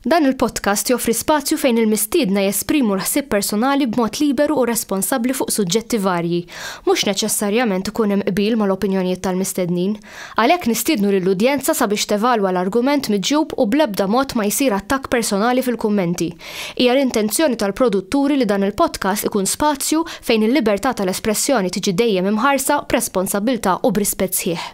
Dan il-podcast joffri spazju fejn il-mistiedna jesprimu l-ħsieb personali b'mod liberu u responsabbli fuq suġġetti varji. Mhux neċessarjament ikun hemm qbil mal-opinjonijiet tal-mistednin. Għalhekk nistiednu lill-udjenza sabiex tevalwa l-argument miġjub u bl-ebda mod ma jsir attakk personali fil-kummenti. Hija l-intenzjoni tal-produtturi li dan il-podcast ikun spazju fejn il-libertà tal-espressjoni tiġi dejjem imħarsa b'responsabbiltà u b'rispett sħiħ.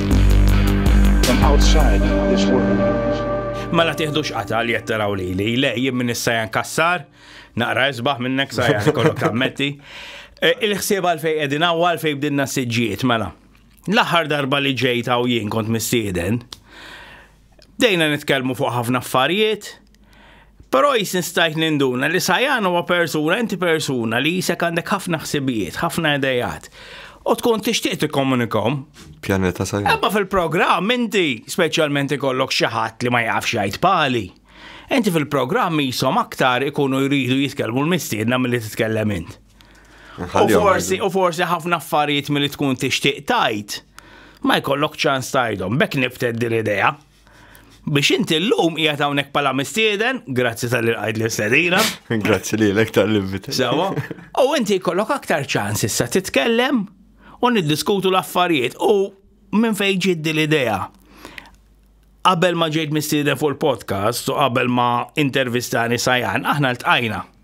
Mela tiħdux qata li qed taraw lili, le jien minn issa jan kassar, naqra isbaħ minnek sa jgħan kollok tammetti. E, il-ħsieb għal fej qegħdin hawn għal fej bdinna siġġiet mela. L-aħħar darba li ġejt hawn jien kont mistieden, Bdejna nitkellmu fuq ħafna affarijiet, però jisin stajt ninduna li Sajan huwa persuna, inti persuna li jisek għandek ħafna ħsibijiet, ħafna idejat. U tkun tixtieq tikkomunikom. Pjaneta Sajan. Ebba fil-programm inti speċjalment ikollok xi ħadd li ma jafx jgħid pali. Inti fil-programm jisom aktar ikunu jridu jitkellmu l-mistiedna milli titkellem int. U forsi ħafna affarijiet milli tkun tixtieq tajt, ma jkollok ċans tajdhom, bekk nifted din idea. Biex inti l-lum hija hawnhekk pala mistieden, grazzi tal-li għajd li sedina. Grazzi li l-ek tal-invit. Sawa. U inti jkollok aktar ċans issa titkellem u niddiskutu l-affarijiet u minn fejn ġiddi l-idea. Qabel ma ġejt mistieden fuq il-podcast u qabel ma intervistani sajan, aħna l-tqajna.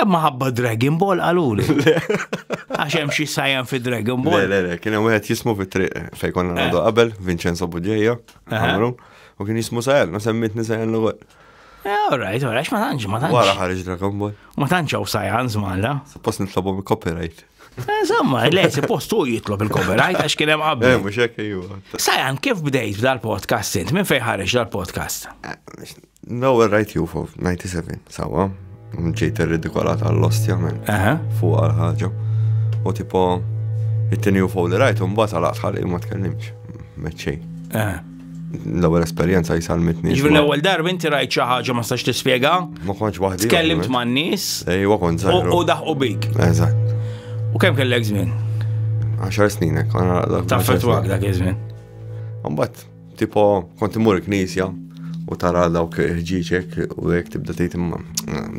Imma ħabba Dragon Ball għaluli. Għax hemm xi sajjan fi Dragon Ball. Le, le, kien hemm wieħed jismu fi triq eh, fejn konna eh. nagħdu qabel, Vincenzo Budjeja, eh. u kien jismu sajjan, u semmitni sajjan l għol All right, all right, ma tantx, ma tantx. Wara ħarġ Dragon Ball. Ma tantx hawn sajjan żmalla. Suppost nitlobhom copyright. Zamma, eh, le, si postu jitlob il-copyright għax kien hemm qabel. Eh, mhux hekk ejwa. Sajan, kif bdejt dal-podcast int? Minn fejn ħareġ dal-podcast? Eh, no, right you for 97, sawa. Ġejt ir-ridikola tal-lostja minn fuq għal ħaġa. U tipo, it-tini u fuq li rajt, un bat għal għalaq ma tkellimx. Meċċej. l-ewwel esperjenza jsalmitni. Ġifieri l-ewwel darba inti rajt xi ħaġa ma stax tispjega. Ma kontx waħdi. Tkellimt man nies. Ejwa kont żgħir. U daħqu bik. Eżatt. U kemm kellek żmien? 10 snin hekk. Taffetwak dak iż-żmien. Mbagħad tipo kont imur il-knisja u tara dawk ħġieġek u hekk tibda tgħid imma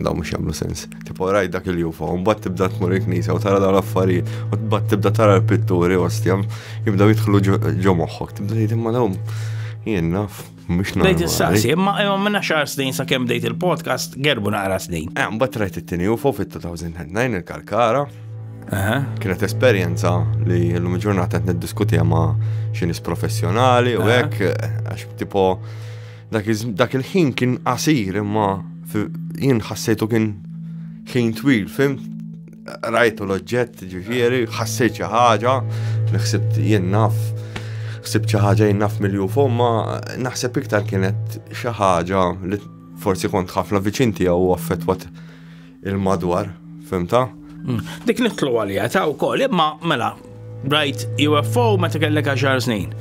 dawn mhux jagħmlu sens. Tipo rajt dak il-UFO, un bat tibda tmur il-knisa u tara dawn l-affarijiet, u bat tibda tara l-pitturi, ostja, jibdaw jitħlu ġo moħħok, tibda jgħid imma dawn jien naf. Mux nara. Bdejt il-saqsi, imma imma minna xar snin sa' kem bdejt il-podcast, gerbu naqra snin. Eh, mbatt rajt it-tini UFO fit-2009 il-Kalkara. Kienet esperienza li l-lum ġurnata qed niddiskutija ma' xinis professjonali u hekk għax tipo Dak il-ħin kien qasir imma jien ħassejtu kien ħin twil, fim? Rajtu l-oġġett ġifieri, ħassejt xi ħaġa, ħsibt jien naf, ħsibt xi ħaġa jien naf milju fomma, naħseb iktar kienet xi ħaġa li forsi kont ħafna viċin tiegħu affettwat Il-madwar, fimta? Mm. Dik nitlu għalija, ta' u koll, imma mela, rajt UFO meta kellek 10 snin.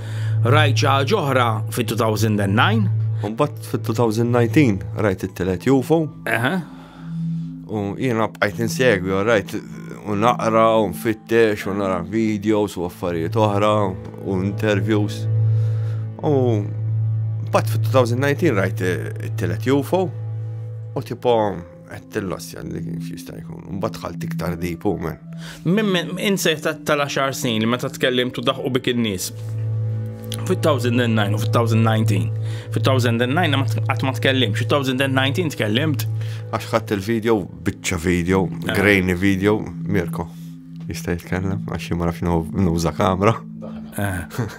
Rajt xi ħaġa oħra fit-2009. Mbagħad fit-2019 rajt it-telet UFO. U jiena bqajt insegwi, rajt u naqra u nfittex u nara videos u affarijiet oħra u interviews. U Bat fit-2019 rajt it-telet UFO u tipo Għettillossja li kif jista' jkun. Mbagħad dħalt iktar deep u men. Minn insejħ tal-10 snin li meta tkellim tu daħqu bik in-nies. Fit-2009 u fit-2019. Fit-2009 qatt ma tkellim, fit-2019 tkellimt. Għax ħadd il-video, biċċa video, eh. grainy video, Mirko. Jista' jitkellem għax ma nafx nuża kamra. Eh.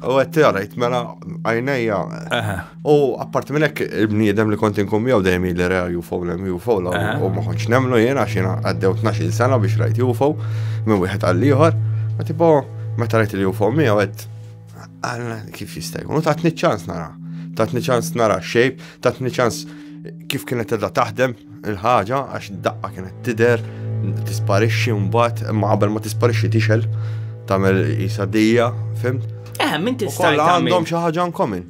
U għed t-għarajt, mela għajnejja. U apparti minnek il-bniedem li kont inkum jaw dejjem li reja UFO l UFO l u ma konċ nemlu jena xina għaddew 12 sena biex rajt UFO minn wieħed għall-ieħor. Ma tipo, meta rajt il-UFO mi għed, għalna kif jista' jkun. U tatni ċans nara. Tatni ċans nara xejb, tatni ċans kif kienet edha taħdem, Il-ħaġa għax daqqa kienet tider, tisparixxi mbagħad, imma qabel ma tisparixxi tixel, tagħmel isa dejja, fimt? Eh, minn tista' għandhom xi ħaġa nkomin.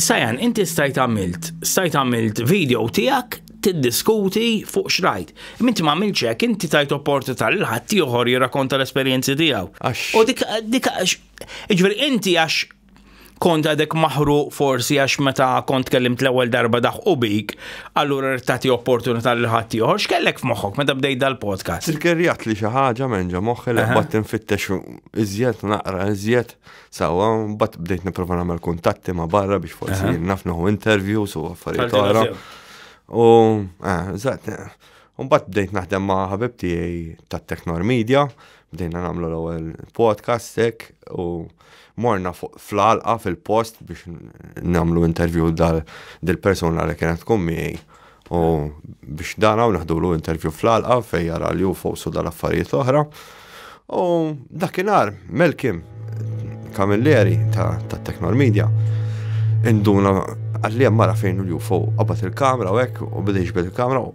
Sajan, inti stajt għamilt, stajt għamilt video tijak tiddiskuti fuq xrajt. Minti ma għamilt ċek, inti tajt opportunità l ħadd ieħor jirrakonta l-esperjenzi tiegħu. U dik dik iġveri inti għax kont għadek maħruq forsi għax meta kont kellimt l-ewwel darba daħqu bik, allura rrid tagħti opportunità lil ħadd ieħor. X'kellek f'moħħok meta bdejt dal-podcast? Tirkerjat li xi ħaġa minn ġa moħħi li bad tinfittex iżjed naqra iżjed sewwa bad bdejt nipprova nagħmel kuntatti ma' barra biex forsi naf naħu interviews u affarijiet oħra. U eżatt, u mbagħad bdejt naħdem ma' ħabib tiegħi tat-Technor Media, bdejna nagħmlu l-ewwel podcast hekk u Morna fl-għalqa fil-post biex namlu intervju dal-persona li kienet tkun miegħi. U biex dan hawn naħdulu intervju fl-għalqa fejn jara li hu fowsu dal-affarijiet oħra. U dakinhar Melkim Kamilleri ta' Technor Media induna għalli mara fejn l-UFO qabad il-kamra u hekk u bidejx bil-kamra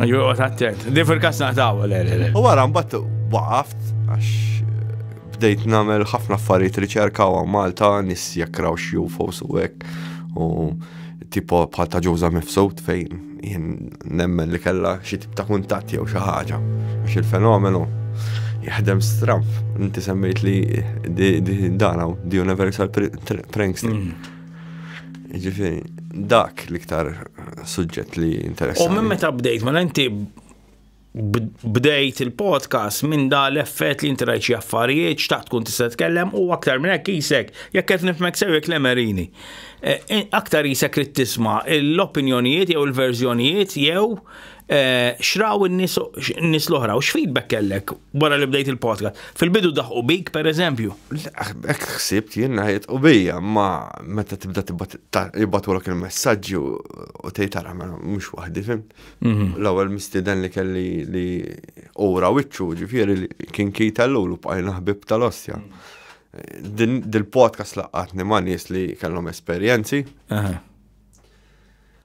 Joqgħod attent. Di fil-kas naqtaw, le, le, le. U wara mbagħad waqaft għax bdejt nagħmel ħafna affarijiet riċerka u Malta nis jekk raw xi UFOs u hekk u tipo bħal ta' ġuża mifsud fejn jien nemmen li kella xi tip ta' kuntatt jew xi ħaġa għax il-fenomenu jaħdem stramp. Inti semmejt li dana, the universal prankster. Mm. Ġifiri, dak l-iktar suġġett li interessi. U minn meta bdejt, ma mela inti bdejt il-podcast minn da l-effett li inti rajċi affarijiet, xtaqt tkun tista' tkellem u aktar minn hekk isek, jekk qed nifmek sew jekk lemerini. E, e, aktar isek li tisma' l-opinjonijiet jew il-verżjonijiet jew Eh, xraw n-nis l-oħra, u x'feedback kellek wara li bdejt il-podcast? Fil-bidu daħqu bik, per eżempju? Ek xsibt jien naħjed u bija, ma meta tibda tibbatu l il-messagġi u tejt għara ma mux wahdi, fim. Mhm. L-ewel mistiden li kelli li ura wicċu, ġifiri li kien kita l-lulu bħajna ħbib tal-ostja. Dil-podcast laqqatni ma nies li kellhom esperjenzi.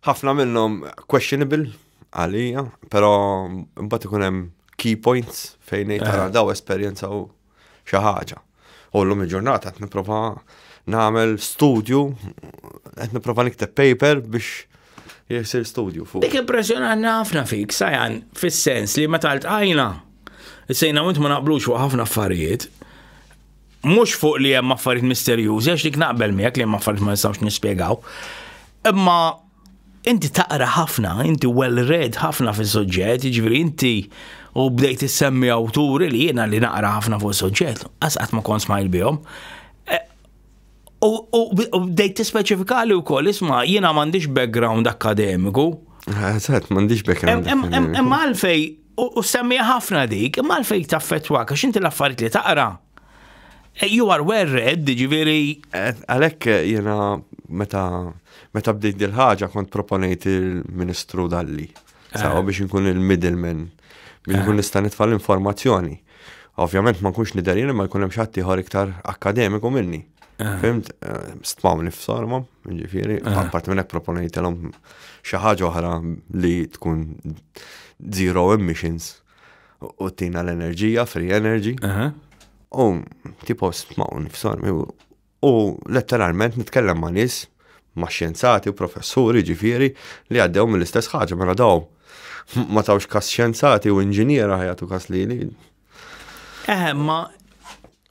Ħafna minnhom questionable għalija, però mbagħad ikun hemm key points fejn ngħid tara eh. daw esperjenza u xi ħaġa. U llum il-ġurnata qed nipprova nagħmel studju, qed nipprova nikteb paper biex jisir studju fuq. Dik impressjonanti ħafna fik, sajan, fis-sens li meta ltqajna, sejna minn ma naqblux fuq ħafna affarijiet, mhux fuq li hemm affarijiet misterjużi għax dik naqbel miegħek li hemm affarijiet ma nistgħux nispjegaw. Imma inti taqra ħafna, inti well read ħafna fis-suġġett, jiġifieri inti u bdejt issemmi awturi li jiena li naqra ħafna fuq suġġett, asqat ma kont smajl bihom. E, u bdejt tispeċifikali wkoll isma' jiena m'għandix background akademiku. Għazat, m'għandix background. Imma għalfej U semmija ħafna dik, imma għalfej taffetwa, għax inti l-affarijiet li taqra. Eh, you are well read, ġiviri. Eh, Għalek eh, jena meta meta bdejt dil-ħaġa kont proponejt il-Ministru Dalli. Sawa biex nkun il-middleman, biex nkun nista' nitfa' l-informazzjoni. Ovvjament ma nkunx nidher jien ma jkun hemm xi ieħor iktar akkademiku minni. Eh. Fimt, eh, stmaw nifsar ma, ġifieri, eh. apart minn hekk proponejtilhom xi ħaġa oħra li tkun zero emissions u tina l-enerġija, free energy. U tipo stmaw nifsar u letteralment nitkellem ma' nies ma' xjenzati u professuri ġifieri li għaddew mill-istess ħaġa mela daw ma tawx kas xjenzati u inġiniera ħajatu kas li li. Eħe, ma.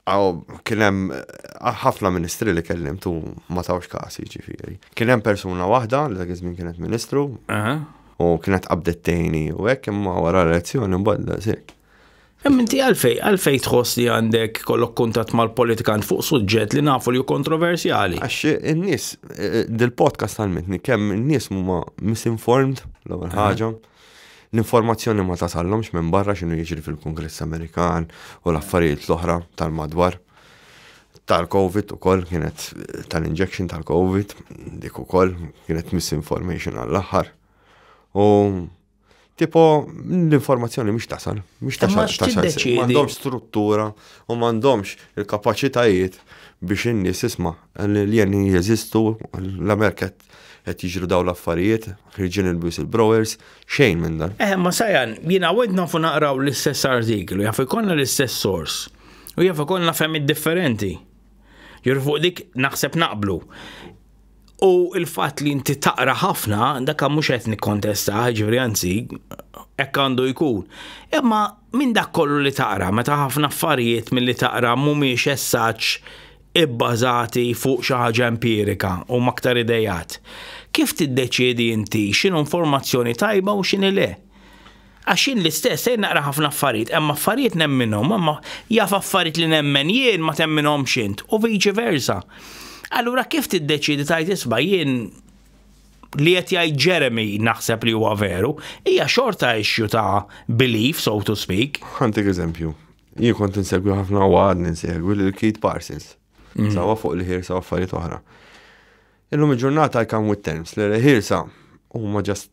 Għaw, kienem eh, ħafna ministri li kellim tu ma tawx kas ġifiri. Kienem persuna wahda li dak iż-żmien kienet ministru. U kienet qabdettejni u hekk imma wara l-elezzjoni mbagħad Imma inti għalfej, għalfej tħoss li għandek kollok kuntat mal-politikant fuq suġġett li nafu li kontroversjali? Għax in-nies, eh, dil-podcast għalmetni kemm in-nies huma misinformed l-ewwel eh. ħaġa. L-informazzjoni ma tasallhomx minn barra x'inhu jiġri fil-Kongress Amerikan u l-affarijiet l-oħra tal-madwar tal-Covid u koll kienet tal-injection tal-Covid, dik u koll kienet misinformation għall-axar. U Tipo, l-informazzjoni mhux tasal, mhux tasal, tasal, m'għandhomx struttura u m'għandhomx il-kapaċitajiet biex in-nies isma' l-alien jeżistu, l-Amerika qed jiġru daw l-affarijiet, ħirġin il-bus il-browers, xejn minn dan. Eh, ma sajan, jina għed nafu naqraw l-istess artiklu, jaf ikonna l-istess sors, u jaf ikonna femmi differenti. Jur fuq dik naħseb naqblu. U il-fatt li inti taqra ħafna, dak mhux qed nikkontesta, ġifieri anzi, hekk għandu jkun. Imma minn dak kollu li taqra, meta ħafna affarijiet milli taqra mhumiex essaġġ ibbażati fuq xi ħaġa empirika u maktar idejat. Kif tiddeċiedi inti x'inhu informazzjoni tajba u x'inhi le? Għax jien l-istess, sejr naqra ħafna affarijiet, hemm affarijiet nemminhom, imma jaf affarijiet li nemmen jien ma temminhomx int, u viċi versa. Allura kif tiddeċidi tajt isba' jien li qed jgħid Jeremy naħseb li huwa veru, hija xorta issue ta' belief, so to speak. Ħantik eżempju, jien kont insegwi ħafna u għad ninsegwi lil Keith Parsons. Mm. Sawa fuq li ħirsa affarijiet oħra. Illum il-ġurnata I come with terms li ħirsa huma ġast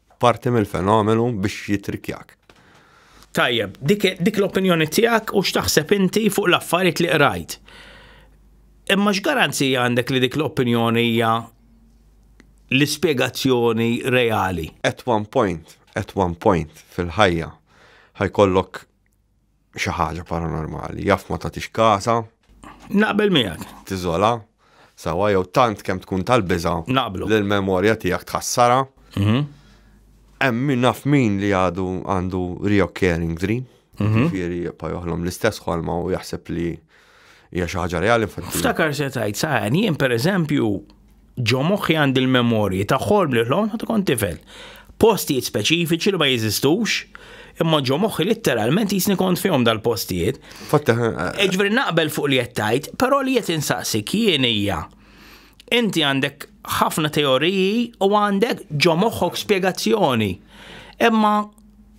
Parti mill-fenomenu biex jitrikjak. Tajjeb, dik, dik l-opinjoni tiegħek u x'taħseb inti fuq l-affarijiet li qrajt. Imma x'garanzija għandek li dik l-opinjoni hija l-ispjegazzjoni reali? At one point, at one point fil-ħajja ħajkollok xi ħaġa paranormali, jaf ma tagħtix kasa. Naqbel miegħek. Tiżola, sawa jew tant kemm tkun tal-biża. Naqblu. L-memorja tiegħek tħassara. Mhm. Hemm min naf min li għadu għandu reoccurring dream. Mhm. Ġifieri jibqa' joħlom l-istess ħolma u jaħseb li Hija xi ħaġa reali infatti. Ftakar se tgħid saħan jien pereżempju ġo moħħi għandi l-memorji ta' ħolm li ħlom ta' kont tifel. Postijiet speċifiċi li ma jeżistux, imma ġo moħħi litteralment jisni kont fihom dal-postijiet. Fatta. Eh, Ġveri naqbel fuq li jettajt, pero li jett insaqsi kien hija. Inti għandek ħafna teoriji u għandek ġo moħħok spiegazzjoni. Imma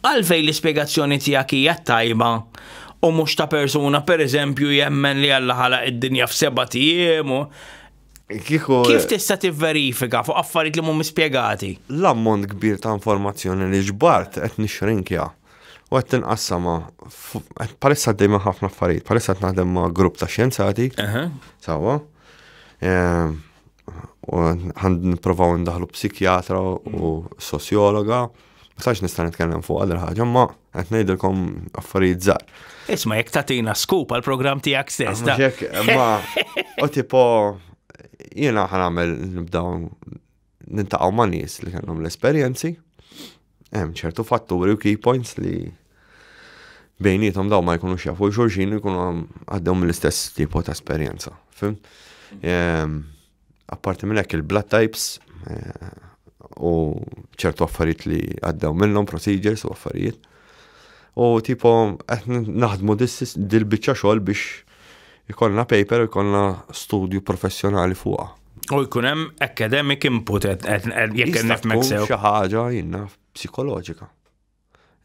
Għalfejn l-ispjegazzjoni tiegħek hija t-tajba u mhux ta' persuna pereżempju jemmen li Alla ħalaq id-dinja f'sebat ijiem u Kieku Kif tista' tivverifika fuq affarijiet li mhumiex spjegati? l-ammont kbir ta' informazzjoni li ġbart qed nixxrinkja u qed inqassamha f- qed- bħalissa għaddej minn ħafna affarijiet, bħalissa qed naħdem ma' grupp ta' xjenzati, Aha. sewwa. Ehm, għand niprofaw ndaħlu psikjatra u sosjologa. Ma sax nista' nitkellem fuq għal ħaġa, ma qed ngħidilkom affarijiet żgħar. Isma' jekk tagħtina skup għal programm tiegħek stess. Ma u tipo jiena ħanamel nibdaw nintaqgħu ma' nies li kellhom l-esperjenzi Hemm ċertu fatturi u key points li bejnietom daw ma jkunux jafu xulxin jkunu għaddew mill-istess tipo ta' esperjenza. Fim? Ehm, apparti minn hekk il-blood types eh, u ċertu affarijiet li għaddew minnhom procedures u affarijiet. U tipo qed naħdmu dil-biċċa xogħol biex Ikollna paper u jkollna studju professjonali fuqha. U jkun hemm academic input jekk qed nifmek sew. Xi ħaġa jinnna psikoloġika.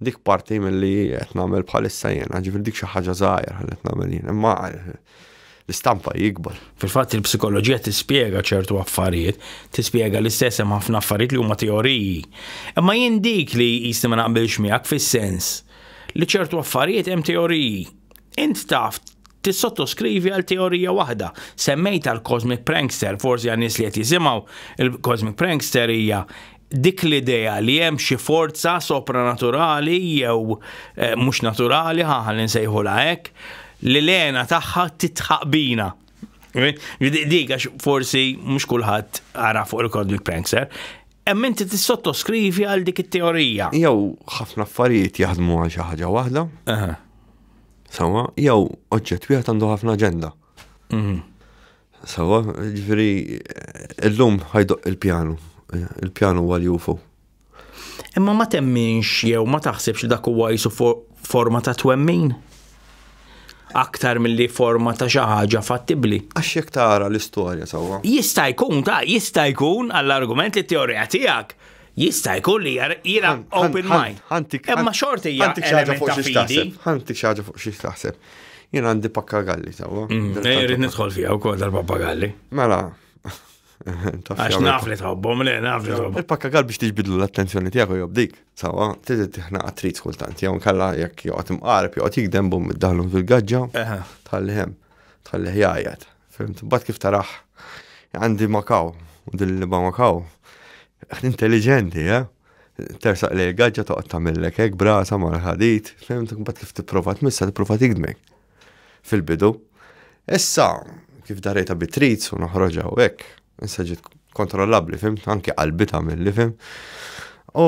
Dik parti milli qed nagħmel bħalissa jiena, ġifier dik xi ħaġa żgħira qed nagħmel jien. Imma l-istampa jikbar. Fil-fatt il-psikoloġija tispjega ċertu affarijiet, tispjega l-istess hemm ħafna affarijiet li huma teoriji. Imma jien dik li jisni ma naqbilx miegħek fis-sens li ċertu affarijiet hemm teoriji Int taf tissottoskrivi għal teorija waħda. Semmejta l-Cosmic Prankster, forsi għan nies li qed jisimgħu, il-Cosmic Prankster hija dik l-idea li hemm xi forza sopranaturali jew eh, mhux naturali ħaħal insejħula hekk li l-għena tagħha titħaq bina. Dik għax forsi mhux kulħadd ara fuq il-Cosmic Prankster, hemm inti tissottoskrivi għal dik it-teorija. Jew ħafna affarijiet jaħdmu għal xi ħaġa waħda. Sawa, jew oġġett wieħed għandu ħafna aġenda. Mhm. Sawa, ġifieri illum ħajdoq il-pjanu. Il-pjanu huwa l-UFO. Imma ma temminx jew ma taħsibx li dak huwa jisu forma ta' twemmin? Aktar milli forma ta' xi ħaġa fattibbli. Għax jekk tara l-istorja sawa. Jista' jkun ta' jista' jkun għall-argument li t-teorija tiegħek Jista' jkun li jiena open mind. Imma xorti hija element ta' fidi. Ħanti xaġa fuq xi taħseb. Jien għandi pakkagalli sewwa. Mm, Ejrid nidħol fiha wkoll tal-pappagalli. Mela. Għax naf li tħobbhom, le naf li tħobbhom. Il-pakkagall biex tiġbidlu l-attenzjoni tiegħek u jobdik, sawa, tiżi tiħna għatrit kultant, jew kalla jekk joqgħod imqarb, joqgħod jikdem bum id-daħlu fil-gaġġa, tħalli hemm, tħalli ħjajat. Fimt, bat kif taraħ, għandi makaw, u din li makaw, intelligenti, eh? Tersaq li għagġa toqgħod tagħmellek hekk brasa mal ħadit, fimt, bat kif tipprova tmissa tipprova tigdmek fil-bidu. Issa, kif darejta bitrit u noħroġa u hekk, issa ġiet kontrollabli, fimt, anke qalbi tagħmel li fim. U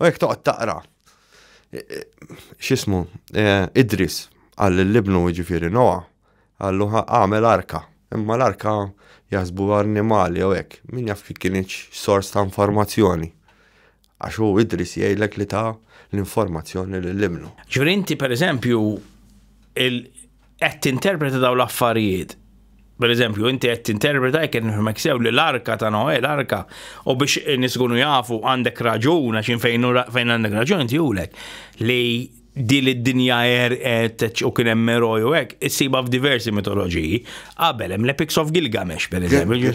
U jekk toqgħod taqra x'ismu Idris għal l-ibnu ġifieri Noa għallu għamel arka. Imma l-arka jaħsbu annimali u hekk, min jaf kif kien sors ta' informazzjoni. Għax hu Idris jgħidlek li ta' l-informazzjoni lill-ibnu. Ġifieri inti pereżempju qed tinterpreta daw l-affarijiet. Per eżempju, inti qed tinterpreta jekk qed nifhmek sew li l-arka ta' Noe, l-arka, u biex nisgunu jafu għandek raġun għax fejn fejn għandek raġun inti julek li din id-dinja er u kien hemm eroj u hekk issiba f'diversi mitoloġiji. Qabel hemm l-Epics of Gilgamesh per eżempju.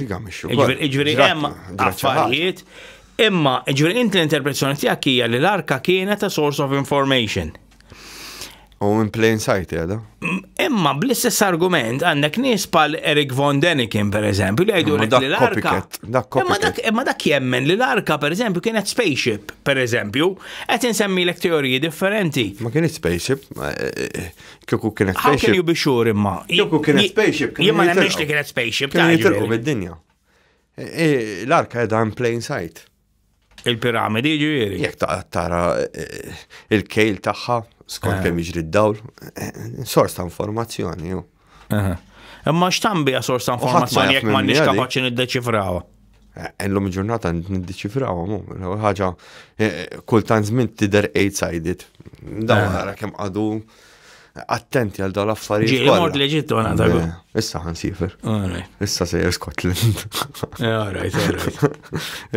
Iġveri hemm affarijiet imma iġveri inti l-interpretazzjoni tiegħek hija li l-arka kienet a source of information. U in plain sight, jada. Imma bl-istess argument għandek nies pal Eric Von Denikin, per eżempju, li għajdu li l-arka. Imma dak jemmen li l-arka, per eżempju, kienet spaceship, per eżempju, għet insemmi l teoriji differenti. Ma kienet spaceship, eh, eh, kieku kienet spaceship. How can you be sure imma? Kieku kienet spaceship. Jemma nemmex li kienet spaceship. Kienet jitilqu mid-dinja. Eh, l-arka edha in plain sight. Il-piramidi ġifieri. Jekk ta' tara eh, il-kejl tagħha skont eh. kemm jiġri d-dawl, eh, sors ta' informazzjoni. Imma x'tan bija sors ta' informazzjoni jekk m'għandniex kapaċi niddeċifrawha. Ellum ġurnata niddeċifrawha mu, ħaġa kultant żmien tidher eight-sided. Dawn nara kemm għadu attenti għal dawn l-affarijiet. Ġieli mort l-Eġittu għana ta' Issa għan sifer. Issa sejjer Scotland.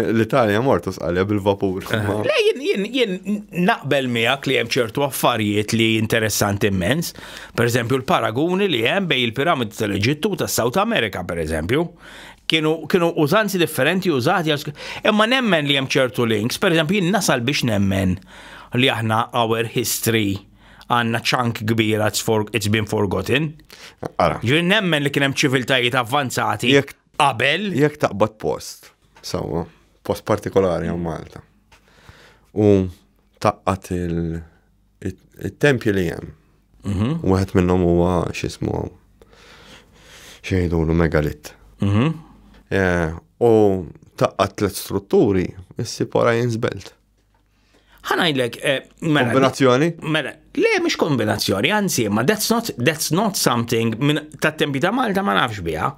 L-Italja mort usqalja bil-vapur. Eh. Le jien jien naqbel miegħek li hemm ċertu affarijiet li interessanti immens. Per eżempju l-paraguni li hemm bej il-piramidi tal-Eġittu ta' South America per eżempju kienu kienu użanzi differenti użati imma nemmen li hemm ċertu links, per eżempju jien nasal biex nemmen li aħna our history għandna ċank kbir it's been forgotten. Ara. Ġifieri nemmen li kien hemm ċiviltajiet avvanzati qabel. Jekk taqbad post, sewwa, post partikolari għal Malta. U taqqat il-tempju li hemm. Mhm. Wieħed minnhom huwa x'ismu xejdulu megalit. Mhm. Eh, u taqqat tliet strutturi, issi pora jinsbelt. ħanajlek. Eh, mela, kombinazzjoni? Mela, le, mux kombinazzjoni, anzi, ma that's not, that's not something minn ta' tempi ta' Malta ma nafx biha.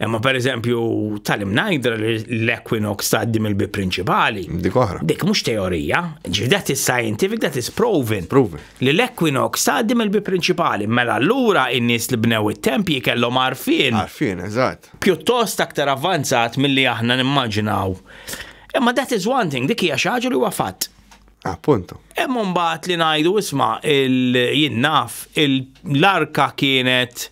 Imma per eżempju, tal-im najdra l-Equinox ta' dim il-bi principali. Dik oħra. Dik mux teorija, ġi that is scientific, that is proven. Proven. Li l-Equinox ta' dim il-bi principali. Mela, l-ura in-nis li bnew it-tempji kellhom arfin. Arfin, eżatt. Pjuttost aktar avvanzat mill-li aħna nimmaġinaw. Imma that is one thing, dik hija xi ħaġa li huwa fatt. Appunto. Hemm mbagħad li ngħidu isma' il-jinnaf l-arka kienet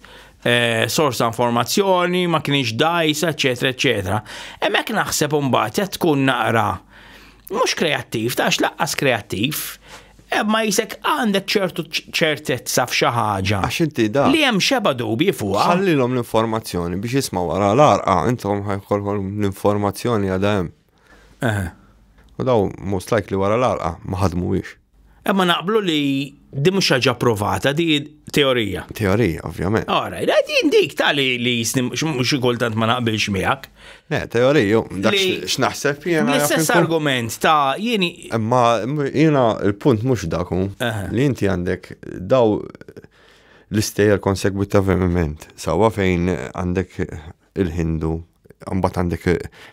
eh, sors ta' informazzjoni, ma kienx dajsa, eċetera, eċetera. Hemmhekk naħseb mbagħad qed tkun naqra mhux kreattiv, tax laqqas kreattiv, Eh, ma jisek għandek ċertu ċertezza f'xi ħaġa. Għax inti da. Li hemm xeba dubi fuqha. Ħallilhom l-informazzjoni biex jisma' wara l-arqa, intom ħajkolhom l-informazzjoni għadha hemm. Eh. U daw most likely wara l-arqa ma ħadmuwiex. Imma eh, naqblu li di mhux ħaġa provata, di teorija. Teorija, ovvjament. Ora, din dik tali li jisni xi kultant ma naqbilx miegħek. Ne, teoriju, dak x'naħseb jena. L-istess argument ta' jieni. Imma jiena il-punt mhux daku li inti għandek daw l-istejjer konsegwitivament. Sawa fejn għandek il-Hindu, mbagħad għandek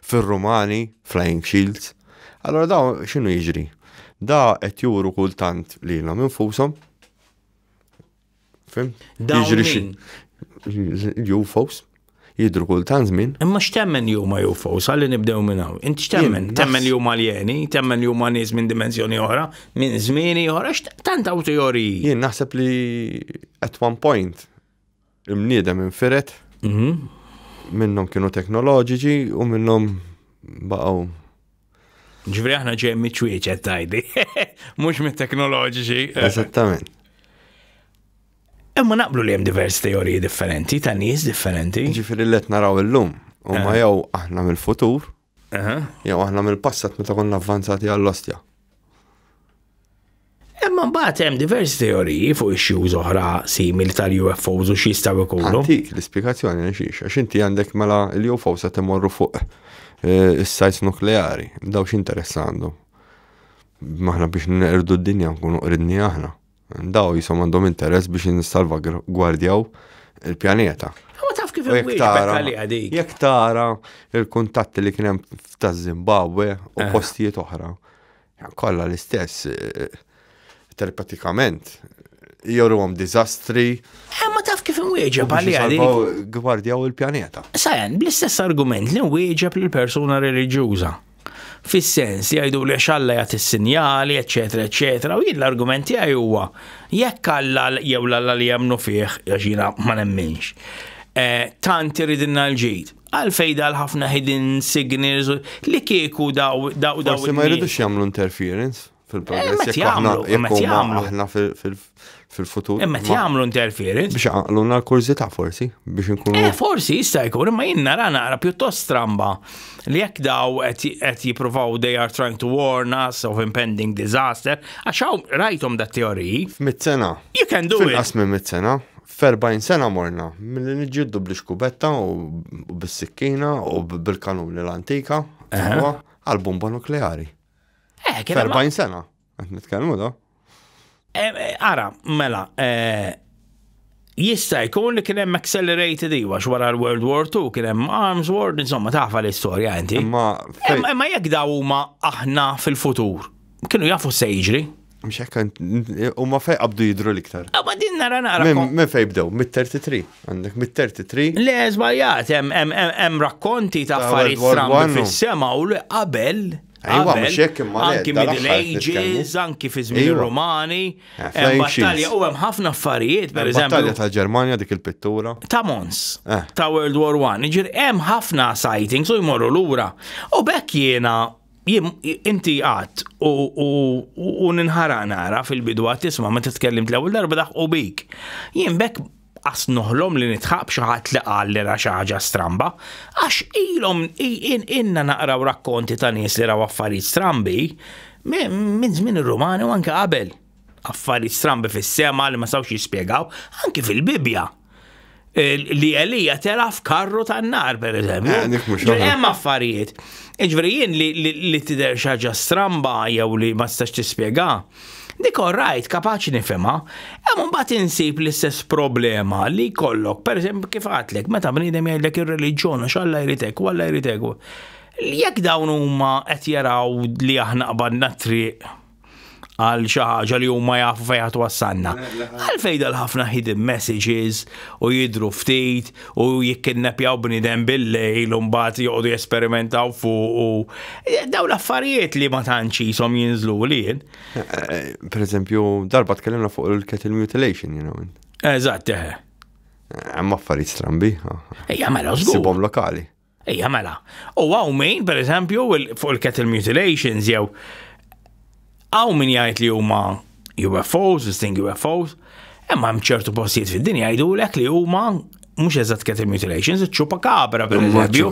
fir-Rumani flying shields. Allora daw x'inhu jiġri? Da qed juru kultant lilhom infushom Fim? Jiġri xi. UFOs jidru kull tan żmien. Imma x'temmen li huma UFOs, għalli nibdew minn hawn. Inti x'temmen? Temmen li huma aljeni, temmen li huma nies minn dimensjoni oħra, minn żmieni oħra, tant hawn teoriji. Jien naħseb li at one point imniedem infiret mhm. minnhom kienu teknoloġiċi u minnhom baqgħu Ġifri aħna ġej miċwieċet tajdi, mhux mit-teknoloġiċi. Eżattament. Imma naqblu li hemm diversi teoriji differenti ta' nies differenti. Ġifri li qed naraw illum huma eh. jew aħna mill-futur, eh. jew aħna mill-passat meta konna avvanzati għall-ostja. Imma mbagħad hemm diversi teoriji fuq issues oħra simili tal-UFOs u x'jistgħu jkunu. Dik l-ispjegazzjoni għax għax inti għandek mela l-UFOs qed imorru fuq eh, is-sajts nukleari, daw x'interess għandu. Maħna biex nerdu d-dinja nkunu qridni aħna. Daw jisom għandhom interess biex nissalva gwardjaw il-pjaneta. U taf kif Jek tara il-kuntatti li kienem ta' Zimbabwe u eh. postijiet oħra. Kolla l-istess, eh, telepatikament, joru għom dizastri. Eh, ma taf kif nwieġeb għalli għalli. Gwardjaw il-pjaneta. Sajan, bl-istess argument li nwieġeb l-persuna religjuza. Fis-sens, jgħidu li għax Alla jagħti s-sinjali, eċetera, eċetera, u jien l-argument tiegħi huwa jekk Alla jew l-Alla li jemmnu fih, għax jiena ma nemminx, eh, tant iridilna l-ġid għalfej dal ħafna hidden signals li kieku daw daw daw. Forsi ma jridux jagħmlu interference. fil-progress. Jekk aħna jekk aħna fil-futur. Imma jagħmlu interference. Biex għaqluna l-kurżità forsi, biex nkunu. Eh, forsi jista' jkun, imma jien nara nara pjuttost stramba li jekk daw qed jippruvaw they are trying to warn us of impending disaster, għax hawn rajthom dat teoriji. Mit-sena. You can do it. Fil-qasmi mit-sena, Ferbajn sena morna, mill-li nġiddu bl kubetta u bis-sikkina u bil-kanuni l-antika, għal-bomba nukleari. Eh, kien 40 sena, qed nitkellmu da. Eh, eh, ara, mela, eh, jista' jkun li kien hemm accelerated iwa wara l-World War II kien hemm Arms War, insomma tafa l-istorja inti. Imma jekk daw huma aħna fil-futur, kienu jafu se jiġri. Mxek, u ma fej qabdu jidru liktar. Ah, ma din nara nara. Men fej bdew, mit-33, għandek mit-33. Le, zbaljat, hemm rakkonti ta' affarijiet strambi fis-sema u li qabel. Ejwa, mxek imma. Anki middle ages, anki fi żmien romani. Eh, hemm battalja u hemm ħafna affarijiet, per eżempju. Battalja ta' Ġermanja dik il-pittura. Ta' Mons. Eh. Ta' World War I. Ġir hemm ħafna sightings u jmorru lura. U bekk jiena Jim, inti għat u ninħara nara fil-bidu għat tisma ma t-tkellim t-lewel darba daħ u bik. Jim bek għas nuħlom li nitħab xaħat li għal li raxaġa stramba, għax ilom inna naqraw rakkonti ta' nis li raw affarijiet strambi minn żmien il-Rumani u anke qabel. affarijiet strambi fis-sema li ma sawx jispjegaw, anki fil-Bibja. Li Elija tela f'karru tan-nar, per eżempju. Eh, hemm affarijiet. Iġveri jien li tidher xaġa stramba jew li ma stax tispjega. Dik rajt kapaċi nifema, hemm mbagħad insib l-istess problema li kollok, per eżempju kif għatlek, meta bniedem jgħidlek ir-reliġjon u x'Alla jritek u Alla jritek. Jekk dawn huma qed jaraw li aħna qabadna triq għal xi ħaġa li huma jafu fejn ħadd wassalna. Għal fejn dal-ħafna hidden messages u jidru ftit u jikkinnepjaw bniedem bil-lejl u mbagħad joqogħdu jesperimentaw fuq u eh, dawn l-affarijiet li ma tantx jisom jinżlu lien. Eh, eh, per eżempju, darba tkellimna fuq il-kettle mutilation, you know. Eżatt, eħe. Hemm affarijiet strambi. Ejja, mela żgur. Sibhom lokali. Ejja mela, u għaw min, per eżempju, fuq il-cattle mutilations jew għaw min jgħid li huma UFOs, disting UFOs, imma hemm ċertu postijiet fid-dinja jgħidulek li huma mhux eżatt cattle mutilations, ċupa kabra per eżempju.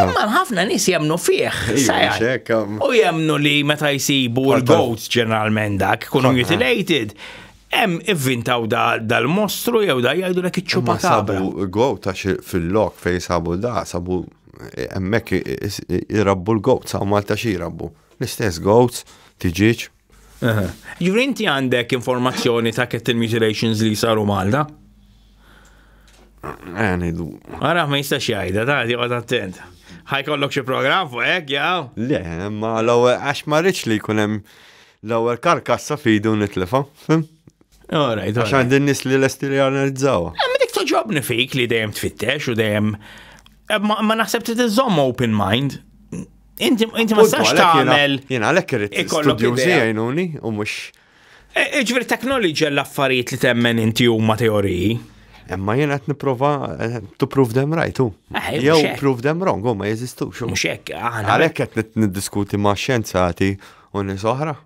Imma ħafna nies jemnu fih. U jemnu li meta jsibu l-goats ġeneralment dak, kunu mutilated. Hemm ivvintaw da dal-mostru jew da jgħidulek iċ-ċupa Ma sabu kabra. goat għax fil-lok fejn sabu da, sabu hemmhekk i- is- i- irabbu l-goat, sa' Malta xi jrabbu. L-istess goats, tiġiġ. Ġifri inti għandek informazzjoni ta' cattle mutilations li saru Malta? Eh, ngħidu. Ara ma jistax jgħidha, ta' joqgħod attent. Ħajkollok xi programm fuq hekk, jaw? Le, ma l-ewwel għax ma rridx li jkun hemm L-ewwel karkassa f'idu nitlifha. All right. Għax għandi n-nies li lesti li analizzawa. Eh, ma dik toġobni fik li dejjem tfittex u dejjem. Eh, ma naħseb trid iżomm open mind. Inti ma sax tagħmel. Jien għalhekk irid studju jgħinuni u mhux. Eh, Ġifieri teknoloġija l-affarijiet li temmen inti huma teoriji. Emma jien qed nipprova to prove them right u. Jew prove them wrong, u ma jeżistux. Mhux hekk, għalhekk qed niddiskuti ma' xjenzati u nies oħra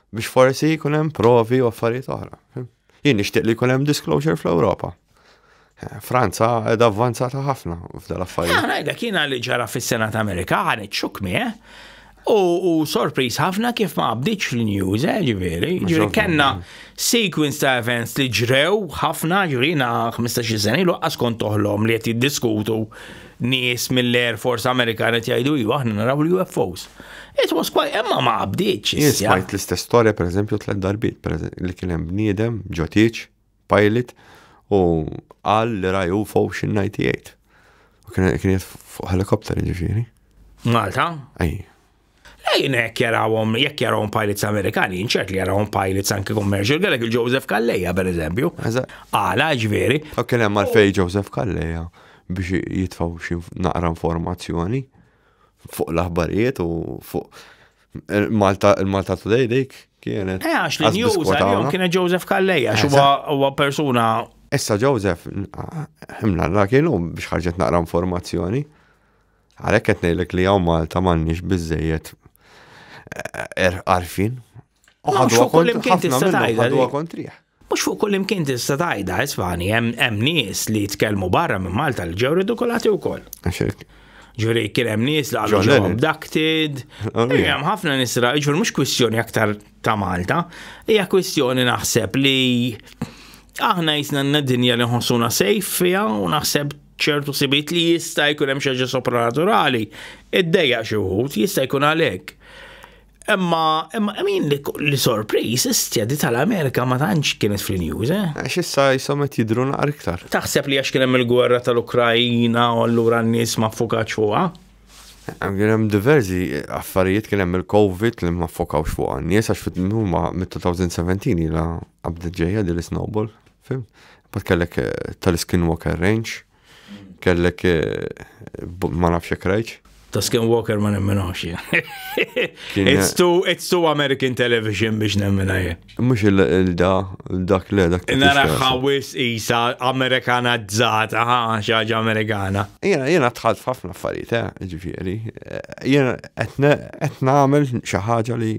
biex forsi jkun hemm provi u affarijiet oħra. Jien nixtieq li jkun hemm disclosure fl-Ewropa. Eh, Franza edha avvanzata ħafna f'dal affarijiet. Għana edha kiena li ġara fis-Senat Amerika għan iċċukmi, eh? U sorpriż ħafna kif ma għabdiċ fil-news, eh, ġiviri. Ġiviri, kena sequence ta' events li ġrew ħafna ġiviri na 15 sena ilu għaskon toħlom li għet jiddiskutu nies mill-Air Force Amerikan qed jgħidu iva aħna naraw l-UFOs. It was quite imma ma qabdiċ. Smajt l-istess storja pereżempju tliet darbiet li kien hemm bniedem ġotiċ, pilot u qal li ra UFO x'98. U kien qed fuq helikopter ġifieri. Malta? Ej. Lejn hekk jarawhom, jekk jarawhom pilots Amerikani, inċert li jarawhom pilots anki commercial, kellek il-Joseph Kalleja per eżempju. Għala, ġveri. U kien hemm għalfej Joseph Kalleja biex jitfaw xi naqra informazzjoni fuq l-aħbarijiet u fuq Malta, il-Malta Today dik kienet. Eh, għax li news għal-jom kienet Joseph Kalleja, huwa persuna. Issa Joseph, himna la kienu biex ħarġet naqra informazzjoni. Għalhekk qed ngħidlek li hawn Malta m'għandniex biżejjed eh, er- arfin. U ħadu fuq kull imkien tista' tgħidha. Ħadu kontriħ. Mhux fuq kull imkien tista' tgħidha, isfani, hemm nies li jitkellmu barra minn Malta li ġew ridikolati wkoll. Ġuri kien hemm nies li għadu ġew abducted. Oh, hemm ħafna nies ra, ġuri mhux kwistjoni aktar ta' Malta, hija kwistjoni naħseb li aħna jisna n-dinja li nħossuna sejf fija u naħseb ċertu sibiet li jista' jkun hemm xi ħaġa sopranaturali, iddejja xi wħud, jista' jkun għalhekk. Imma imma min li sorpriż istjadi tal-Amerika ma tantx kienet fil-news, eh? Għax issa jisom qed jidru naqar iktar. Taħseb li għax kien hemm il-gwerra tal-Ukrajina u allura n-nies ma ffukax fuqha? Kien hemm diversi affarijiet kien hemm il-COVID li ma ffokaw fuqha. Nies għax fit-2017 ila Għabdet ġeja di l-snowball, fim? Bat kellek eh, tal-skinwalker range, mm. kellek eh, ma nafx jek rajċ. Ta' skinwalker ma nemminawx It's too, it's too American television biex nemmina jien. Mux il-da, dak le, dak. Nara ħawis isa Amerikana zzat, aha, xaġa Amerikana. Jena, jena tħalt ħafna affarijiet, eh, ġifiri. Jena, etna għamil xaħġa li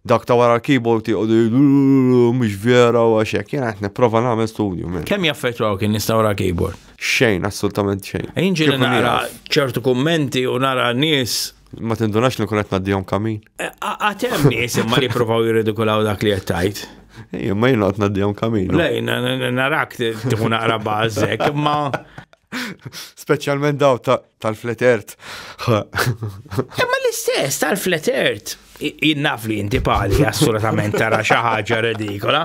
Dawk ta' wara l-keyboard jgħodu mhux vera u għaxek, jena qed nipprova nagħmel studju minn. Kemm jaffettwaw kien nista' wara l-keyboard? Xejn, assolutament xejn. Inġi nara ċertu kummenti u nara nies Ma tindunax li kunet naddijom kamin. Eh, għatem nis imma li provaw jirridikulaw dak li jettajt. Ejja, ma jina għat naddijom kamin. Lej, narak tiħu naqra bazzek, imma. Specialment daw ta' Tal-flat earth. Imma l-istess tal-flat earth. Jinnaf li jinti pali assolutament tara xi ħaġa redikola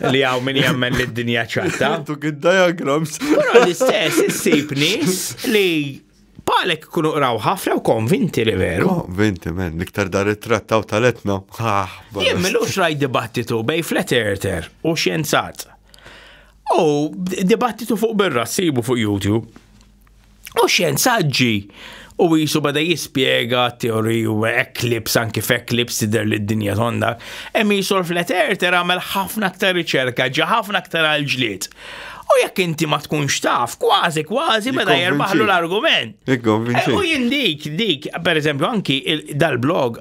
li hawn min jemmen li d-dinja ċatta. Tu gid diagrams. Però l-istess issib nies li palek kunu qraw ħafna u konvinti li veru. Konvinti, men, liktar dar it-trattaw tal-etna. Ah, Jien milux raj dibattitu bej flat earther u xjenzat. U dibattitu fuq birra sibu fuq YouTube. U xjenzaġġi u jisu bada jispjega teori u eklips anki f'eklips tidher li d-dinja tonda, hemm jisu l-flat earther għamel ħafna aktar riċerka, ġa ħafna aktar għal-ġlied. U jekk inti ma tkunx taf, kważi kważi meta jerbaħlu l-argument. Eh, u jien dik, dik, per eżempju, anki dal-blog,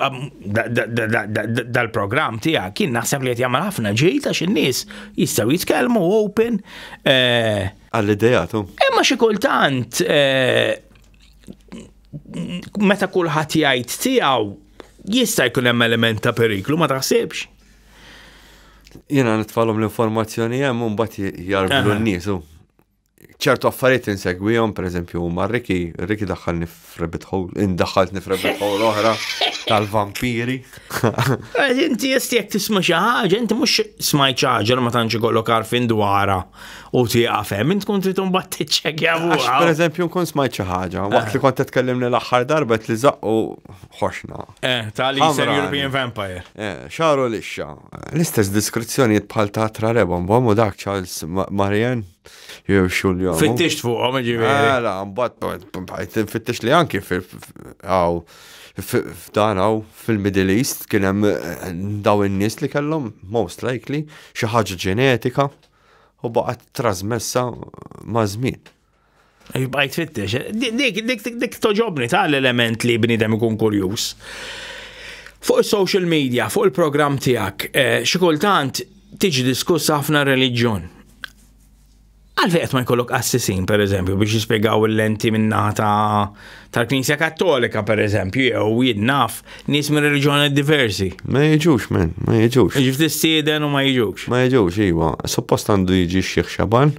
dal-program tija, kien naħseb li jtjamma ħafna ġejta xinnis jistaw jitkelmu open. Eh, Għall-idejatu. Imma xi kultant eh, meta kulħadd jgħid tiegħu jista' jkun hemm element ta' periklu ma taħsibx. Jiena nitfalhom l-informazzjoni hemm u mbagħad jarblu n-nies. ċertu affarijiet insegwihom, pereżempju, ma' Riki, Riki daħħalni F'rabbit hole, indaħħaltni f'rabbit hole oħra tal-vampiri. Inti jesti jek tisma xi ħaġa, inti mhux smajt xi ħaġa ma tantx ikollok għarfien dwarha u tieqaf hemm, int tkun trid imbagħad tiċċekkja fuqha. Pereżempju nkun smajt xi ħaġa, waqt li eh. kont tkellimni l-aħħar darba li zaqqu ħoxna. Eh, tali Eastern European Vampire. Eh, xaru lixxa. L-istess diskrizzjonijiet bħal ta' Trareba, mbagħad dak Charles Marian. Jew xulja. Fittixt fuqhom ġifieri. Mela, mbagħad fittixt li anki fil f'dan hawn fil-Middle East kien hemm eh, daw in-nies li kellhom most likely xi ħaġa ġenetika u baqgħet trasmessa ma' żmien. Bajt fittex. Dik, dik, dik toġobni ta' l-element li bnidem ikun kurjus. Fuq il-social media, fuq il-program tijak, eh, xikultant tiġi diskuss ħafna religjon. Għalfej qed ma jkollok assisin, per eżempju, biex jispjegaw l-lenti minna ta' tal-Knisja Kattolika, per eżempju, jew jinnaf nies minn reliġjoni diversi. Ma jiġux, men, ma jiġux. Jiġu tistieden u ma jiġux. Ma jiġux, iwa. Suppost għandu jiġi xieħ xaban.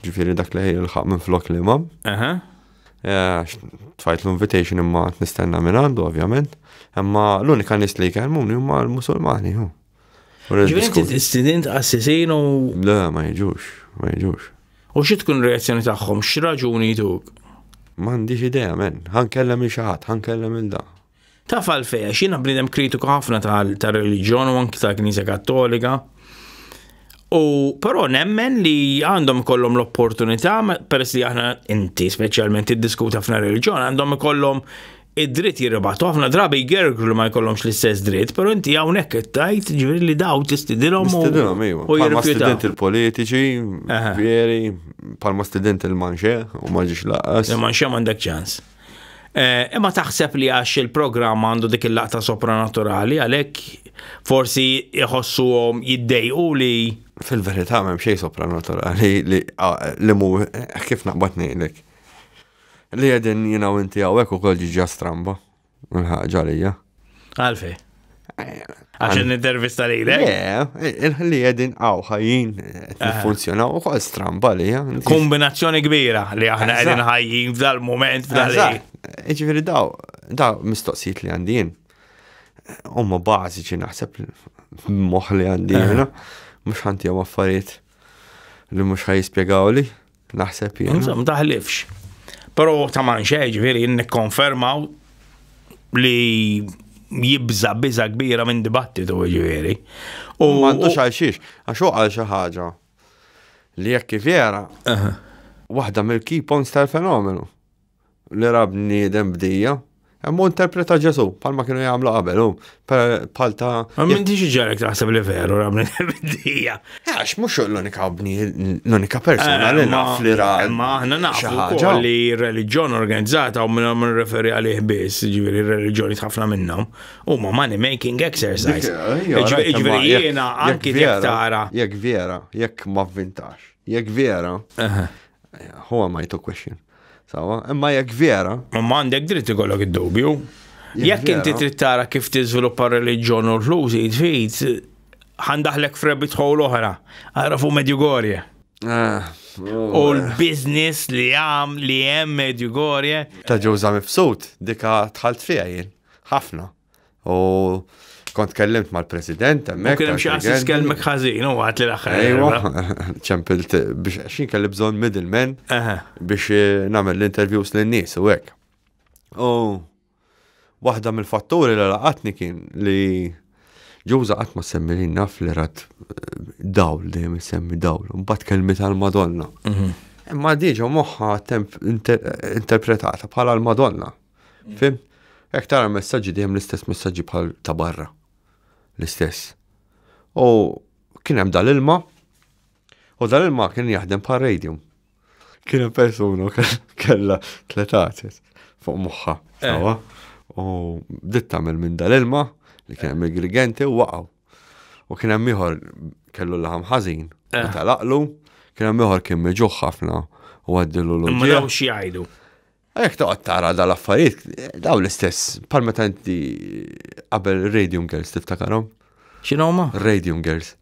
Ġifiri dak li jilħaq minn flok li imam. Eh, tfajt l-invitation imma nistenna minn għandu, ovvjament. Imma l-unika nis li jkellmu huma l-Musulmani. Ġivinti t-istidint għassisin u. Le, ma jġux, ma jġux. U xi tkun reazzjoni tagħhom, x'raġuni jduk? M'għandix idea men, ħankellem il xaħat, ħankellem il da. Taf għalfej, għax jiena bniedem kritiku ħafna tal-reliġjon u anki tal-Knisja Kattolika. U però nemmen li għandhom kollom l-opportunità, peress li aħna inti speċjalment iddiskuta f'na reliġjon, għandhom kollom id-dritt jirribat. Ħafna drabi jgergru li ma jkollhomx l-istess dritt, però inti hawnhekk qed tajt ġifieri li daw tistidilhom u Tidilhom ejwa. u Palma jirrifjutaw. student il-politiċi, Aha. veri, palma student il-manxe, u ma ġiex laqas. Imma nxem għandek ċans. Eh, Imma taħseb li għax il-programm għandu dik il-laqta sopranaturali għalhekk forsi jħossuhom jiddejqu li Fil-verità m'hemm xejn sopranaturali li ah, li mu kif naqbad ngħidlek. Li qegħdin jiena u inti hawnhekk ukoll ġiġa stramba. Il-ħaġa għalija. Għalfej. Għax n-intervista li l Li għedin għaw ħajjin eh, funzjonaw u kol stramba li Kombinazzjoni kbira li aħna għedin ħajjin f'dal moment f'dal Iġveri daw, daw mistoqsijiet li għandin. Umma bażiċi naħseb moħ li għandin. Mux ħanti għam affarijiet li mux ħaj jispiegaw li. Naħseb jien. Insomma, daħlifx. Pero ta' man xej, ġviri, nikkonfermaw li jibza biza kbira minn dibattitu ġviri. U għandu xalxiex, għax għal xi ħaġa li jekk vera waħda mill-key points tal-fenomenu. li ra bniedem bdija, Imma interpreta Ġesu, palma kienu jagħmlu qabel, u pal ta'. Ma minn diġi ġarek taħseb li veru rabni bidija. Għax mhux l-unika bni, l-unika persona li eh, naf li ra. Ma aħna nafu li reliġjon organizzata u minna minn referi għalih biss, ġifieri reliġjoni ħafna minnhom, huma money making exercise. Ġifieri eh, eh, jiena anki tara. Jekk vera, jekk ma vvintax, jekk vera, huwa ma jtu question. Sawa, imma jekk vera. Ma m'għandek dritt ikollok id-dubju. Jekk inti trid tara kif tiżviluppa r-reliġjon u l-ħlużi tfid, ħandaħlek f'rebit ħol oħra, għarafu Medjugorje. Ah, u l-biznis li għam li hemm Medjugorje. Ta' ġewża mifsud, dika tħalt fija jien. Ħafna. U kont kellimt mal-president, emmek. Kien xi għassis kelmek ħażin, u għat li l-axħar. Ejwa, ċempilt biex xin kelli bżon middleman biex eh, namel l-interviews l-nis u għek. U waħda mill-fatturi li laqatni kien li ġuża qatt ma semmi li naf li rat eh, dawl dejjem semmi dawl, mbagħad kelmi tal-Madonna. Mhm. Imma diġa moħħa interpretata bħala l-Madonna. Fim? Hekk tara messaġġi dejjem l-istess messaġġi bħal ta' barra. L-istess. U kien hemm dal-ilma u dal-ilma kien jaħdem bħal radium. Kien hemm persuna kellha tlet għates fuq moħħa. Eh. U bdiet tagħmel minn dal-ilma li kien hemm il-grigenti u waqgħu. U kien hemm ieħor kellu laħam ħażin eh. u talaqlu, kien hemm ieħor kien meġuħ ħafna u għaddilu l-ġieħ. Ma xi jgħidu. Jekk toqgħod tara dal affarijiet daw l-istess bħal meta inti qabel Radium Girls tiftakarhom. X'inhuma? Radium Girls.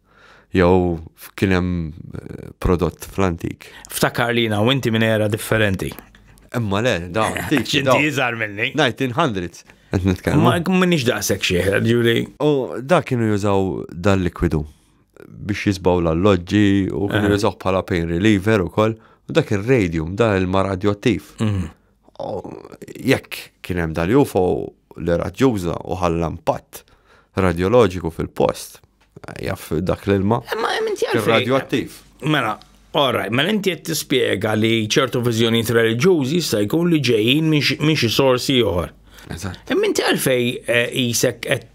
Jew kien hemm eh, prodott fl-antik. Ftakar li u inti minn era differenti. Imma le, daw. X'inti iżgħar minni. 1900. Qed nitkellmu. Ma minix daqshekk xieħ, ġuri. U dak kienu jużaw dal-likwidu biex jisbaw l-alloġġi u kien eh. jużaw bħala pain reliever ukoll. U dak ir-radium, da il-ma radioattiv. Mhm. Jekk kien hemm dal-UFO li raġġuża u ħalla impatt radioloġiku fil-post, jaff dak l-ilma. Eh, ma inti għalfejn. Radioattiv. Mela, Ora, ma mela inti qed tispjega li ċertu viżjonijiet reliġjużi jista' jkun li ġejjin minn xi sorsi oħra. Eżatt. Imma eh, inti għalfej eh, isek qed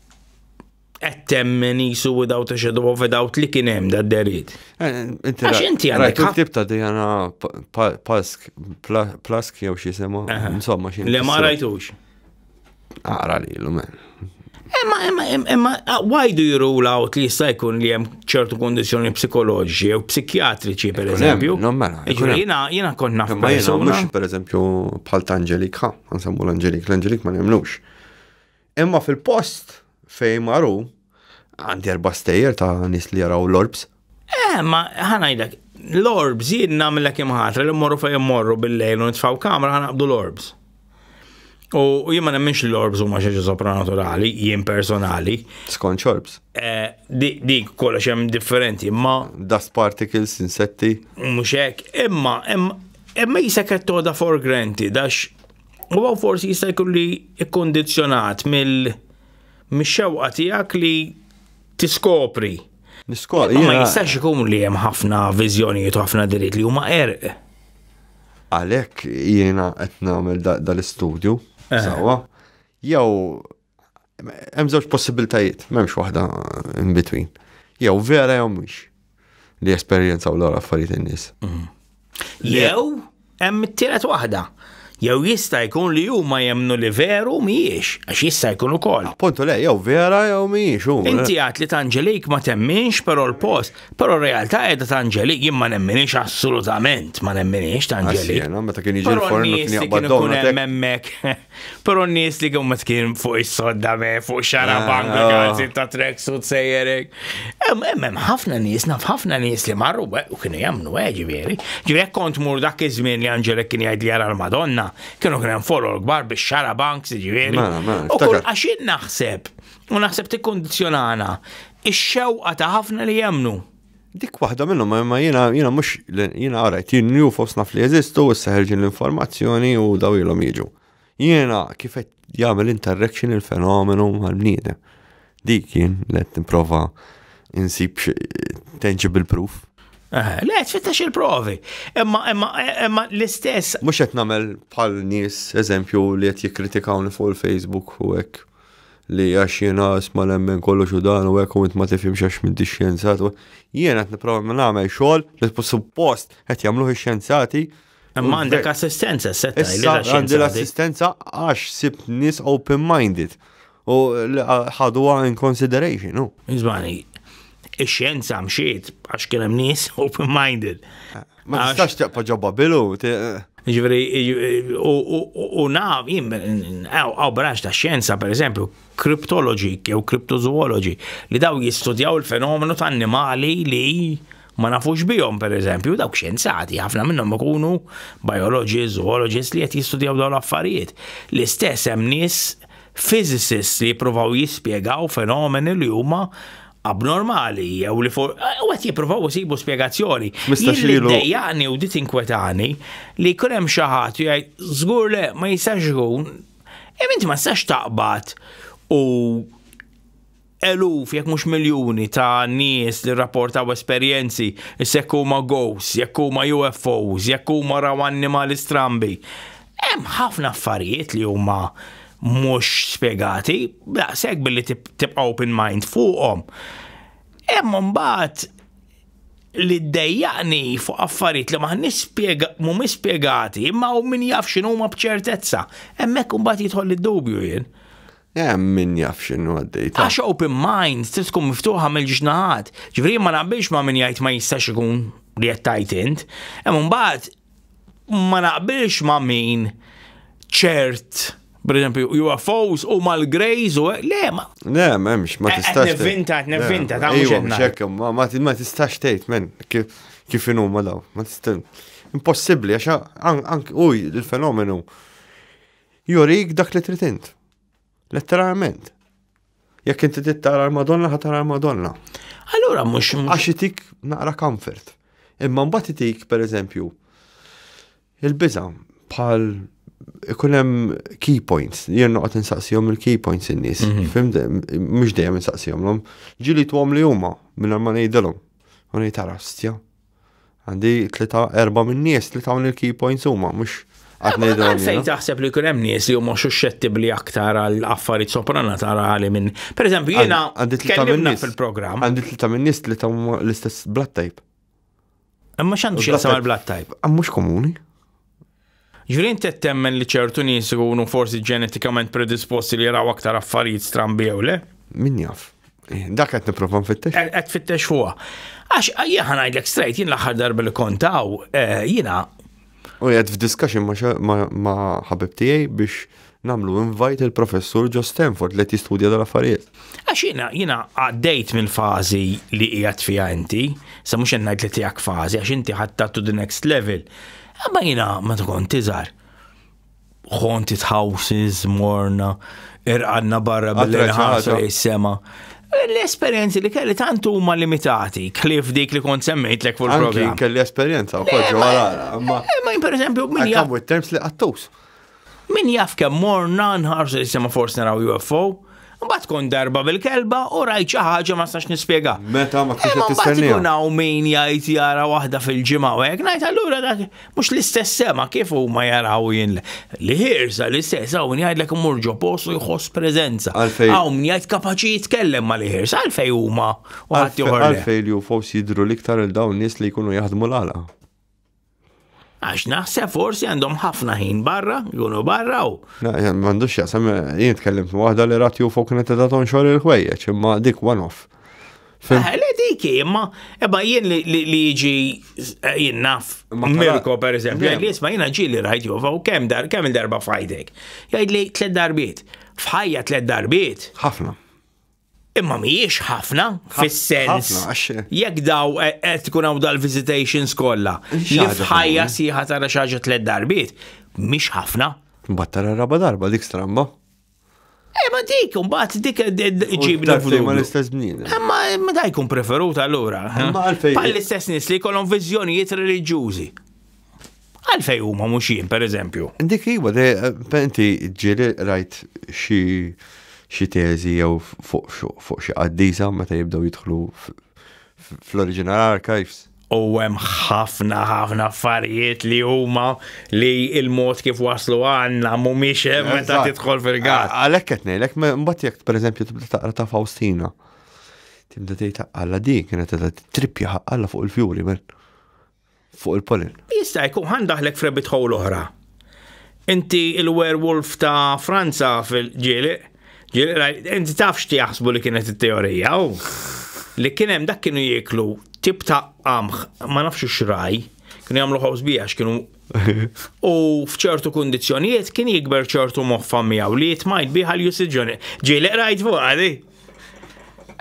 qed temmen jisu without a shadow of a doubt li kien hemm da derit. Eh, Għax inti għandek. Rajt tip ta' Diana Pask, Plask jew xi sema, insomma xi. Le ma rajtux. Ara li l-lumen. Emma, emma, emma, uh, why do you rule out li jista' jkun li hemm ċertu kondizjoni psikoloġi jew psikjatriċi per eżempju? Non mela. Jiena jiena kont naf. Ma jiena mhux per eżempju bħal ta' Angelika, nsemmu l-Angelik, l-Angelik ma nemnux. Imma fil-post fejn maru, għandi erba' stejjer ta' nis li jaraw l-orbs. Eh, ma ħanajdlek, l-orbs jien nagħmlek imħatra li mmorru fejn immorru bil-lejl u nitfaw kamra ħanaqbdu l-orbs. U jien ma nemminx li l-orbs huma xi sopranaturali, jien personali. Skont orbs. Eh, dik kollox hemm differenti, imma. Dust particles, insetti. Mhux hekk, imma imma jisek qed toda for granted għax U għaw forsi jista' jkun li ikkondizzjonat mill-xewqa tiegħek li tiskopri. Niskopri. Ma jistax ikun li hemm ħafna viżjonijiet u ħafna dritt li huma erq. Għalhekk jiena qed nagħmel dal-istudju eh. sewwa. Jew Hemm żewġ possibiltajiet, m'hemmx waħda in between. Jew vera jew mhux li esperjenzaw l affarijiet in-nies. Mhm. Jew hemm it-tielet waħda. Jew jista' jkun li huma jemnu li veru mhijiex, għax jista' jkun ukoll. Appuntu le, jew vera jew mhijiex hu. Inti għad li tanġelik ma temminx però l-post, però r-realtà qiegħda tanġelik jien ma nemminix assolutament ma nemminix tanġelik. Jiena meta kien jiġi l-forn kien jaqbad donna. Hemmhekk. Pero n-nies li kummet kien fuq is-sodda me, fuq xara ah, bank, ah. għazzi ta' trek su tsejjerek. Emmem ħafna nies, naf ħafna nies li marru u kienu jamnu eh, ġivieri. Ġivieri kont mur dak iż-żmien li Anġelek kien jgħid li jara l-Madonna, kienu kien hemm folor kbar biex xara bank, ġivieri. U kull għaxin naħseb, u naħseb tikkondizzjonana, ix-xewqa ta' ħafna li jemnu. Dik waħda minnhom imma jiena jiena mhux jiena għarajt jien ju fost naf li jeżistu u seħerġin l-informazzjoni u daw ilhom jiġu. Jiena kif qed jagħmel interaction il-fenomenu mal-bniedem. Dik jien let nipprova insib tangible proof. Eh, le, tfittax il-provi. Imma, imma, imma l-istess. Mux qed nagħmel bħal nies, eżempju, li qed jikkritikawni fuq il-Facebook u hekk. li għax jiena isma nemmen kollox u dan u hekk u int ma tifhimx għax m'intix xjenzat. Jiena qed nipprova minn nagħmel xogħol li suppost qed jagħmluh ix-xjenzati. Imma għandek assistenza, setta. Issa għandi l-assistenza għax sib nies open-minded u ħaduha in consideration. Iżmani, ix-xjenza mxiet għax kien hemm nies open-minded. Ma tistax teqpa ġo Babilu. Ġveri, u naf, jim, għaw branċ ta' xjenza, per eżempju, kriptologi, jew kriptozoologi, li daw jistudjaw il-fenomenu ta' annimali li ma nafux bihom, per eżempju, dawk xjenzati, ħafna minnhom ikunu biologi, zoologist li qed jistudjaw dawn l-affarijiet. L-istess hemm nies physicists li jippruvaw jispjegaw fenomeni li huma abnormali jew li for u qed jippruvaw isibu spjegazzjoni. Mistax Jien li ilu- ddejjaqni u di tinkwetani li jkun hemm xi ħadd u jgħid żgur le ma jistax ikun. Imma inti ma tistax taqbad u eluf jekk mhux miljuni ta' nies li rrapportaw esperjenzi issa jekk huma ghosts, jekk huma UFOs, jekk huma raw annimali strambi. Hemm ħafna affarijiet li huma mhux spjegati, daqshekk billi tibqa' open mind fuqhom. Hemm imbagħad li ddejjaqni fuq affarijiet li maħniex mhumiex spjegati, imma hu min jaf x'inhuma b'ċertezza. Hemmhekk imbagħad jidħol id-dubju jien. Hemm min jaf x'inhu għaddej. Għax open mind trid tkun miftuħa mill-ġiex naħat. Ġifieri ma naqbilx ma' min jgħid ma jistax ikun li qed tajt int. Hemm imbagħad ma naqbilx ma' min ċert per eżempju, UFOs u mal-Greys u le, ma. Le, memx, ma eh, tistax. Nevinta, nevinta, ta' mux Ma tistax tejt, men, kif inu ma daw. Ma tistax. Impossibli, għaxa, ank, uj, il-fenomenu jurik dak li trid int. Letteralment. Jekk inti tittara l-Madonna, ħatara l-Madonna. Allura mhux għax itik naqra comfort. Imma mbagħad itik pereżempju il-biża bħal ikun hemm key points, jien noqgħod insaqsihom il-key points in-nies. Mhm. Fim mhux dejjem insaqsihomlhom. Ġili tuhom li huma minn ma ngħidilhom. U ngħid tara stja. Għandi tlita erba minn nies li tawni l-key points huma, mhux Għalfejn taħseb li jkun hemm nies li huma suscettibbli aktar għal affarijiet sopranaturali minn. Pereżempju jiena kellimna fil-programm. Għandi tlita minn nies li tawmu l-istess blood type. Imma x'għandu xi blood type? Mhux komuni. Julian Tett temmen li ċertu nies ikunu forsi ġenetikament predisposti li jaraw aktar affarijiet strambi jew le. Min jaf? Eh, dak qed nipprova nfittex. Eh, qed fittex fuqha. Għax eh, jien ngħidlek straight jien l-aħħar darba li kontaw jiena. U qed f'discussion ma' ħabib tiegħi biex Nagħmlu invite lil Professur Joe Stanford li qed jistudja dan l-affarijiet. Għax jiena jiena għaddejt mill-fażi li qiegħed fiha inti, sa mhux qed ngħid li tiegħek fażi għax inti ħadtha to the next level. Imma jiena meta kont tiżgħar. Haunted houses, morna, irqanna barra billi ħarsu is-sema. L-esperienzi li kelli tant huma limitati, klif dik li kont semmejt lek fuq il-programm. Kelli esperjenza wkoll ġewwa l-għara. Ma jien pereżempju minn. Għamu terms li qattus. Min jaf kemm morna nħarsu li sema forsi naraw UFO, Mbagħad kont darba bil-kelba u rajt xi ħaġa ma sax nispjega. Meta ma kienx qed tistenni. Kun hawn min jgħid jara waħda fil-ġimgħa u hekk ngħid allura dak mhux l-istess sema kif huma jaraw jien li ħirsa l-istess hawn jgħidlek imur ġo post u jħoss preżenza. Hawn min jgħid kapaċi jitkellem ma li ħirsa għalfej huma u ħadd joħor. Għalfej li u forsi jidru l-iktar il dawn nies li jkunu jaħdmu l-għala. Għax naħseb forsi għandhom ħafna ħin barra, jkunu barra u. M'għandux jasem, jien tkellimt waħda li rat ju fuq kienet ta' tonxor il-ħwejjeġ, imma dik one off. Eh, le dik imma ebba jien li jiġi eh, jien naf. Mirko per eżempju, jgħid li jisma' jiena ġieli rajt ju u kemm dar kemm il-darba fajdek. Jgħid li tliet darbiet. F'ħajja tliet darbiet. Ħafna. Imma mhijiex ħafna fis-sens. Jekk daw e, qed tkun hawn dal-visitations kollha, li f'ħajja sieħa tara xi ħaġa tliet darbiet, mhix ħafna. Mbagħad tara raba darba dik stramba. Eh, ma dik, mbagħad dik e, e, ġibna f'dum. Ma l-istess bniedem. Eh, ma ma da jkun preferut allura. Eh? Ma għalfejn. Bħal l-istess nies li jkollhom viżjonijiet reliġjużi. Għalfejn huma mhux jien, pereżempju? Dik iva, inti ġieli rajt xi xi teżi jew fuq xi qaddisa meta jibdew jidħlu fl-original archives. U hemm ħafna ħafna affarijiet li huma li il-mod kif waslu għandna mhumiex hemm meta tidħol fil-gat. Għalhekk qed ngħidlek, mbagħad jekk pereżempju tibda taqra ta' Faustina. Tibda tgħid alla di kienet qed trippja ħaqqalla fuq il-fjuri men. fuq il-polin. Jista' jkun ħan daħlek f'rebit ħowl oħra. Inti il-werewolf ta' Franza fil-ġieli, inti taf x'ti jaħsbu li kienet it-teorija u li kien hemm dak kienu jieklu tip ta' qamħ ma nafx x'raj, kienu jagħmlu ħobż bija kienu u fċertu kondizjonijiet kien jikber ċertu moħfa miegħu li jitmajt biħal jusiġġoni. Ġieli rajt fuq għadi.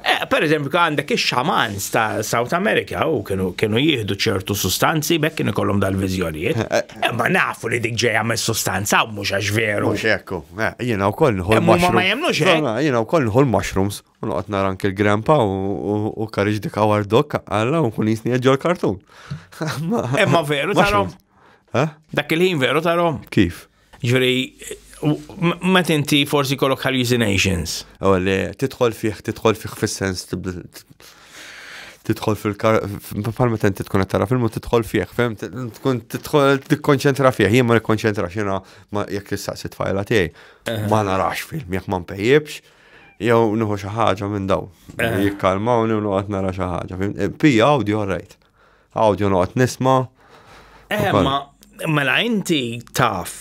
Eh, per eżempju, għandek ix-xamans ta' South America u kienu jieħdu ċertu sustanzi bekk kienu kollhom dal-viżjonijiet. Eh, eh. Ma nafu li dik ġejja mis sustanza u mhux għax veru. Mhux ekku. Jiena wkoll nħol mushrooms. Ma jemnux hekk. Jiena wkoll nħol mushrooms u noqgħod nara anke l-grandpa u karriġ dik għawar dok għalla u kun jisni ġol kartun. Imma veru tarom. Dak il-ħin veru tarom. Kif? Ġri, ma tinti forsi kollok hallucinations. U li titħol fih, titħol fih fis-sens titħol fil-kar, palma tenti tkun għattara filmu titħol fih, fem, tkun titħol tikkonċentra fih, jien ma nikkonċentra xina ma jek tistaqsi tfajla tiegħi. Eh. Ma narax film, jek ma mpejjibx, jew nuħu xi ħaġa minn daw. Eh. Jikkalmawni u nuqgħod nara xi ħaġa. Eh, pija audio rajt. Awdjo noqgħod nisma'. Eh, ma mela inti taf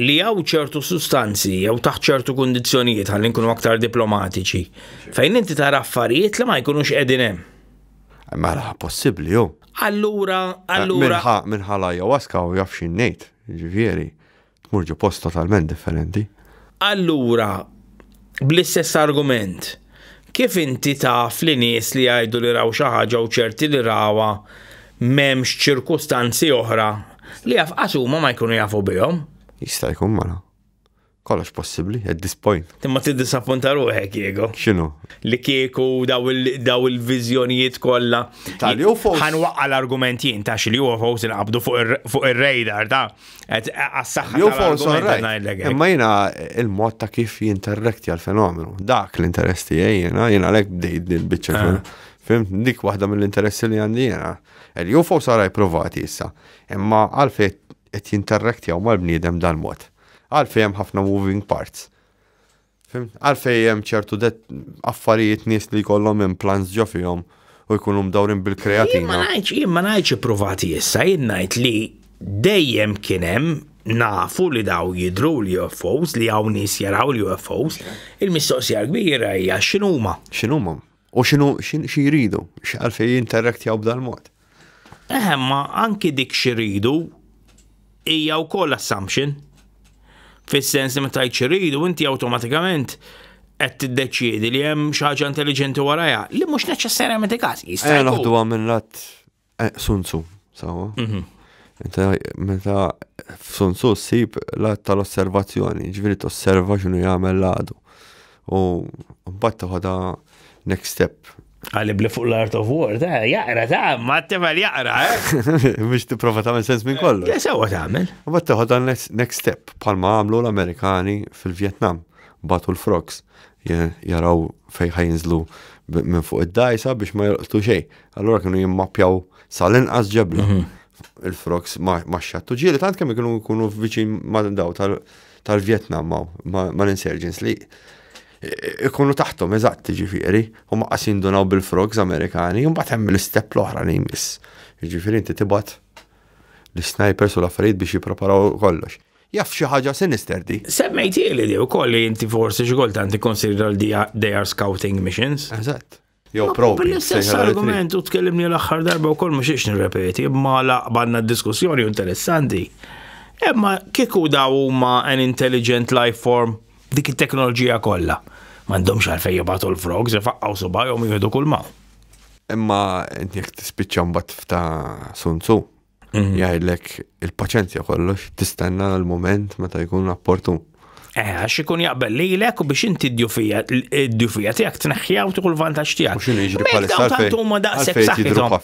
li għaw ċertu sustanzi jew taħt ċertu kondizjonijiet għal nkunu aktar diplomatiċi fejn inti tara affarijiet li ma jkunux qegħdin hemm. Mela possibbli jew. Allura, eh, allura. Minħa minħa la ayahuasca u jaf xi ngħid, ġifieri. Tmur ġo post totalment differenti. Allura, bl-istess argument, kif inti taf li nies li jgħidu li raw xi ħaġa u ċerti li rawha m'hemmx ċirkustanzi oħra li afqas huma ma jkunu jafu bihom? Jista' jkun mala. Kollox possibbli, at this point. Imma tiddisappunta ruħek, Diego. X'inhu? Li kieku daw il- daw il-viżjonijiet kollha. Tal-UFOs. Ħanwaqqa l-argument jien ta' xi li UFOs inqabdu fuq ir- fuq ir-radar ta' Għas-saxħa. Jew false or right. Imma jina il-mod ta' kif jinterrekti għal-fenomenu. Dak l-interess tiegħi jina, jina lek bdejt dil-bicċa. Ah. Fim, dik waħda mill-interessi li għandi jina. Jew false or right provati issa. Imma għalfej qed jinterrekti għaw mal-bniedem dal-mod. Għalfej hemm ħafna moving parts. Għalfej hemm ċertu affarijiet nies li jkollhom implants ġo fihom u jkunu mdawrin bil-kreatina. Jien ma ngħidx ippruvati issa, jien ngħid li dejjem kien hemm nafu li daw jidru l-UFOs li hawn nies jaraw l-UFOs, il-mistoqsija kbira hija x'inhuma. X'inhuma? U xinu xi jridu, x'għalfej jinterraktjaw b'dal-mod. Eħe, ma anki dik xi jridu hija wkoll assumption. Fis-sens li ma tajt xi jridu inti awtomatikament qed tiddeċiedi li hemm xi ħaġa intelliġenti warajha, li mhux neċessarjament il-każ. Jista' noħduha minn lat Eh, Sun Tzu, sawa. Mhm. Inta meta f'Sun Tzu ssib l-att tal-osservazzjoni, ġifieri tosserva x'inhu jagħmel l-għadu. U mbagħad toħodha next step. Għalli bli fuq l-Art of War, ta' jaqra, ta' ma t-tefel jaqra, eh? Biex tipprova tagħmel sens minn kollu. Ja, sewa tagħmel. U bat teħodha next next step, palma għamlu l-Amerikani fil-Vietnam, batu l-frogs. jaraw fejn ħajinżlu minn fuq id-dajsa biex ma jolqtu xej. Allura kienu jimmappjaw sal-inqas ġebla. Mhm. Il-frogs ma xattu ġieli tant kemm kienu jkunu viċin ma daw tal-Vjetnam ma l-insurgents li ikunu taħtom eżatt ġifiri, u ma qasin donaw bil-frogs Amerikani, un bat hemm l-istep l-oħra li jmiss. Ġifiri inti tibat l-snipers u l-affarijiet biex jipreparaw kollox. Jaf xi ħaġa sinister di. Semmejtieli di wkoll li inti forsi xi kultant ikkonsidra li they are scouting missions. Eżatt. Jew probi. L-istess argument u tkellimni l-aħħar darba wkoll mhux ix nirrepeti, imma laqbanna diskussjoni interessanti. Imma kieku daw huma an intelligent life form dik it-teknoloġija kollha. M'għandhomx għalfejn jibgħatu l-frogs ifaqqgħu subajhom jieħdu kull ma. Imma jekk tispiċċa mbagħad f'ta' sunzu. Mm. jgħidlek il-paċenzja kollox, tistenna l-moment meta jkun rapportu. Eh, għax ikun jaqbel li l u biex inti d-djufija, d-djufija tijak tneħħja u tukull vantaġġ tijak. Mux iġri palissa. Tantu ma daqsek saħħithom.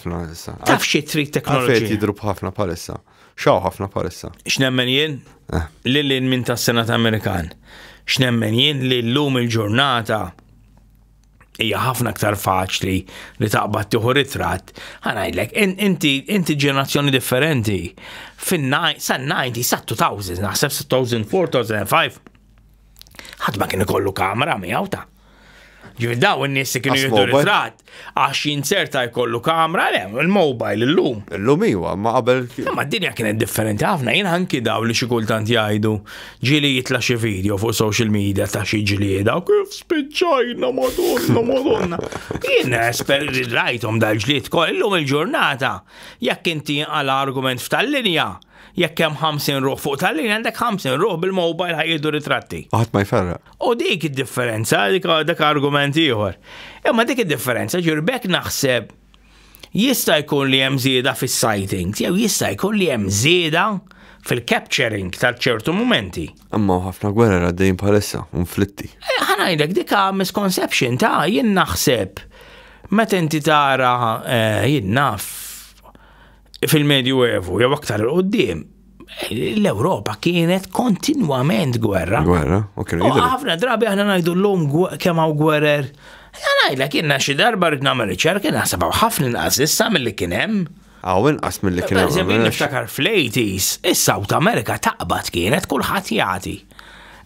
Taf xie trid teknoloġija. Għalfejn jidru bħafna palissa. Xaw ħafna palissa. X'nemmen jien? Eh. Li l minn tas-Senat Amerikan. X'nemmen jien li l-lum il-ġurnata hija ħafna aktar faċli li taqbad tieħu ritratt, ħanajlek, inti inti ġenerazzjoni differenti. Fin-90 sa 2000, naħseb 2000, 2005. Ħadd ma kien ikollu kamera miegħu ta' Ġifir daw n-nies li kienu jiddu ritrat, għax jinserta jkollu kamra, le, il-mobile, l-lum. L-lum iwa, ma qabel. Ma d-dinja kienet differenti ħafna, jien anki daw li xikultant jgħidu, Ġieli jitla' xi video fuq social media ta' xi ġlieda u kif spiċċajna madonna madonna. Jien esper rajthom dal-ġlied kollhom il-ġurnata. Jekk inti għala argument f'tal-linja, jekk hemm 50 ruħ fuq tal-linja għandek 50 ruħ bil-mobile ħajjieħdu ritratti. U ħadd ma jferraq. U dik id-differenza, dak argument ieħor. Imma dik id-differenza, ġifieri b'hekk naħseb Jista' jkun li hemm żieda fis-sightings jew jista' jkun li hemm żieda fil-capturing ta' ċertu mumenti. Imma ħafna gwerer għaddejjin bħalissa, unflitti. Eh, ħanajdek dika misconception ta' jien naħseb meta inti tara eh, jien naf fil-Medju Evu jew aktar il-qoddim l-Europa kienet kontinwament gwerra. Gwerra, ok. Għafna drabi għana najdu l-lum kemm hawn gwerer. Għanajla kienna xi darba rrid nagħmel riċerka kien naħsebha ħafna inqas issa milli kien hemm. Għaw inqas milli kien hemm. Eżempju niftakar fl-80s, is-South America taqbad kienet kulħadd jagħti.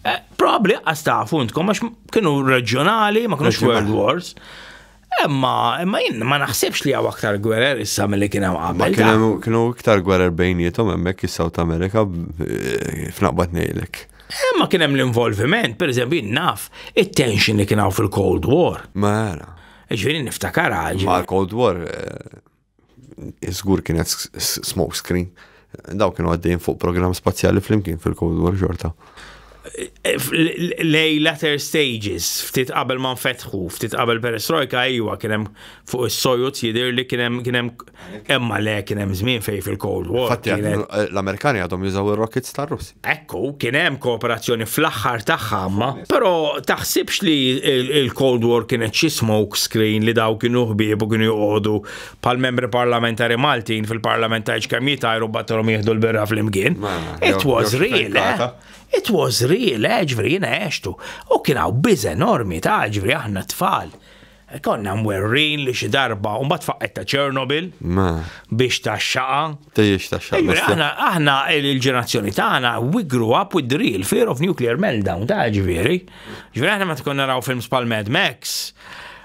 Eh, Probabli għas tafu intkom għax kienu reġjonali, ma kienux World Wars. Imma, imma jien ma naħsibx li għaw aktar gwerer issa mill-li kien hemm qabel. Kienu iktar gwerer bejnietom hemmhekk is-South America eh, f'naqbad ngħidlek. Imma kien hemm l-involviment, per eżempju, naf it-tension li kien hawn fil-Cold War. Mela. Ġifieri niftakar ġifieri. Ma' l-Cold War eh, Iżgur kienet smoke screen. Daw kienu għaddejn fuq program spazjali flimkien fil-Cold War xorta. Lej latter stages, ftit qabel ma nfetħu, ftit qabel perestrojka, ejwa, kienem fuq il-sojut jidir li kienem kienem emma le kienem zmin fej fil-Cold War. Fatti, l-Amerikani għadhom jużaw il-rockets tar-Russ. Ekku, kien hemm kooperazzjoni fl-aħħar tagħha ma, però taħsibx li il-Cold War kienet xi smoke screen li daw kienu ħbieb u kienu joqogħdu pal membri parlamentari Maltin fil-Parlament ta' kemm jitajru battalhom jieħdu l-birra fl-imkien. It was real, eh? It was real, eh, ġveri, jina eċtu. U kien hawn biż enormi ta' ġveri aħna tfal. Konna mwerrin li xi darba u mbagħad faqqet ta' Chernobyl biex ta' xaqa. Tejjex ta' xaqa. Aħna aħna il-ġenerazzjoni tagħna we grew up with the real fear of nuclear meltdown ta' ġifieri. Ġifieri aħna ma tkun naraw films pal Mad Max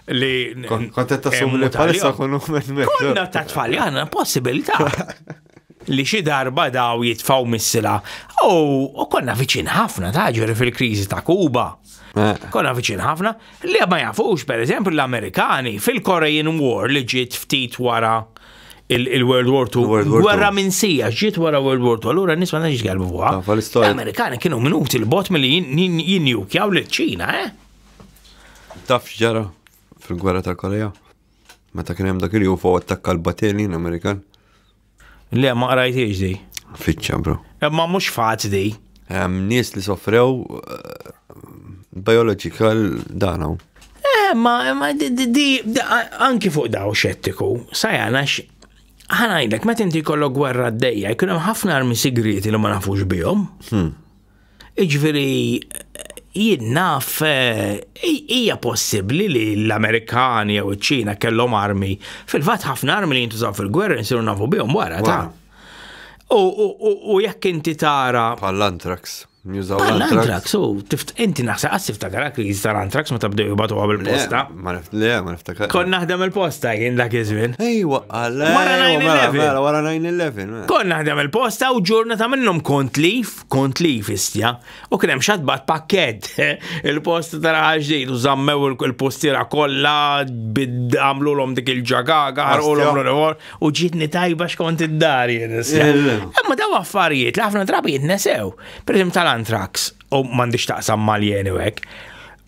li. Kontet ta' sumni palissa kunu Mad Max. Konna ta' tfal, aħna possibilità. li xi darba daw jitfaw missila. U konna viċin ħafna ta' ġuri fil-kriżi ta' Kuba. Eh. Konna viċin ħafna li ma jafux pereżempju l-Amerikani fil-Korean War li ġiet ftit wara il-World War II. Gwerra minn sija, ġiet wara World War II, allura nisma naġġ għalbu fuqa. L-Amerikani kienu minuti l-bot mill jinnjukjaw l-ċina, eh? Taf ġara fil-gwerra tal-Korea? Meta kien hemm dak il-UFO attakka l-battelin Amerikan. Le, ma qrajtiex di. Fiċċa, bro. Imma mhux faċli. Hemm nies li soffrew eh, biological dan hawn. Eh, ma, ma di, di, di, di- a- anki fuq daw xettiku, sajana x. Ħanajdlek, meta inti kollok gwerra d-dejja, jkun hemm ħafna armi sigrieti li ma nafux bihom. Jiġifieri jien naf hija possibbli li l-Amerikani jew iċ-Ċina kellhom armi. Fil-fatt ħafna armi li jintużaw fil-gwerra nsiru nafu bihom wara ta'. U jekk inti tara. Bħal antrax. L-antrax, u inti naħseb għas tiftakar kriżi tal-antrax meta bdew jibatu għabel posta. Le, ma niftakar. Kon naħdem il-posta jien dak iż-żmien. Ejwa, għalla. Wara 9-11. Wara 9-11. Kon naħdem il-posta u ġurnata minnhom kont lif. kont li fistja u kien hemm xatbat pakket il-post tara ġdid u żammew il-postiera kollha għamlulhom dik il-ġagaga ħarqulhom u ġietni tajba xkont id-dar jien. Imma daw affarijiet li ħafna drabi jitnesew. Pereżempju tal-antrax u m'għandix taqsam mal-jeni hekk.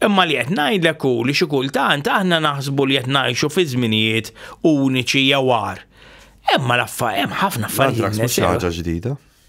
Imma li qed ngħidlek hu li xi kultant aħna naħsbu li qed ngħixu fi żminijiet uniċi jew għar. Imma l-affarijiet hemm ħafna affarijiet. Antrax mhux ħaġa ġdida.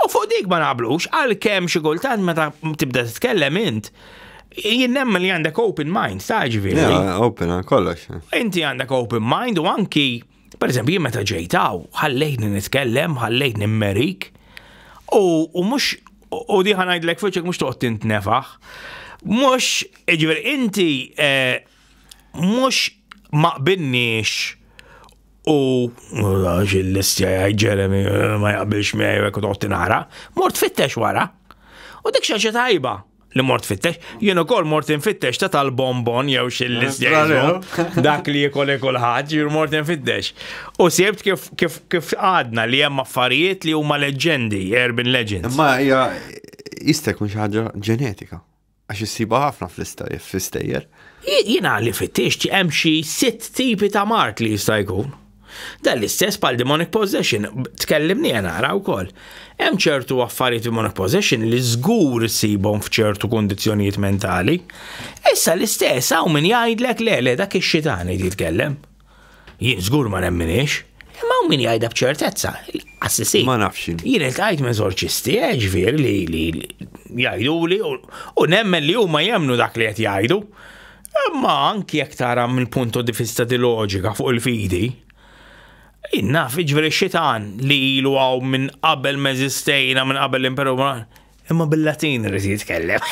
U fuq dik ma naqblux, għalkemm xi kultant meta tibda titkellem int, jien nemmen li għandek open mind, sa' ġifieri. Open għal kollox. Inti għandek open mind u anki, per eżempju, jien meta ġejtaw, ħallejtni nitkellem, ħallejtni mmerik, u mhux u diħa ngħidlek fiċek mhux toqgħod tintnefaħ. Mhux, ġifieri inti eh, mhux ma qbilniex u għax il-listja jgħid Jeremy eh, ma jaqbilx miegħi jekk toqgħod nara, mort fittex wara. U dik xi tajba li mort fittex, jien ukoll mort infittex ta' tal-bonbon jew xil-listja dak li jikol ikol ħadd, jien mort infittex. U sibt kif kif kif għadna li hemm affarijiet li huma leġendi, urban legends. Ma hija jista' jkun xi ħaġa ġenetika. Għax issibha ħafna fl-istejjer. Jiena li fittixt hemm xi sitt tipi ta' mard li jista' jkun. Dan l-istess bħal demonic possession, tkellimni nara wkoll. Hemm ċertu affarijiet demonic possession li żgur issibhom f'ċertu kundizzjonijiet mentali. Issa l-istess hawn min jgħidlek le le dak ix-xitan li jitkellem. Jien żgur ma nemminix. Imma hawn min jgħidha b'ċertezza, assisi. Ma nafx. Jien iltqajt minn eżorċisti, eh, ġifier li li jgħiduli u nemmen li huma jemmnu dak li qed jgħidu. Imma anki jekk tara minn punto di vista di loġika fuq il-fidi, jien naf ġifieri xitan li ilu hawn minn qabel meżistejna minn qabel l-imperu Imma bil-Latin rrid jitkellem.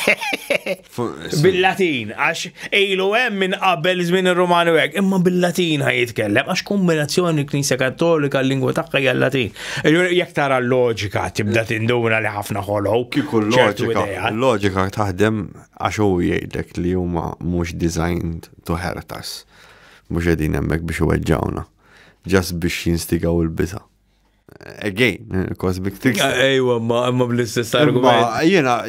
bil-Latin, għax ilu hemm minn qabel żmien ir-Romani u hekk, imma bil-Latin ħaj jitkellem, għax kombinazzjoni Knisja Kattolika l-lingwa tagħha hija l-Latin. Jekk tara l-loġika tibda tinduna li ħafna ħolow. Kieku l-loġika, l-loġika taħdem għax hu jgħidlek li huma mhux designed to hurt us. Mhux qegħdin hemmhekk biex iweġġawna. Ġas biex jinstigaw il-biża'. again, cosmic tricks. Ejwa, ma ma bl-istess argument. Jena,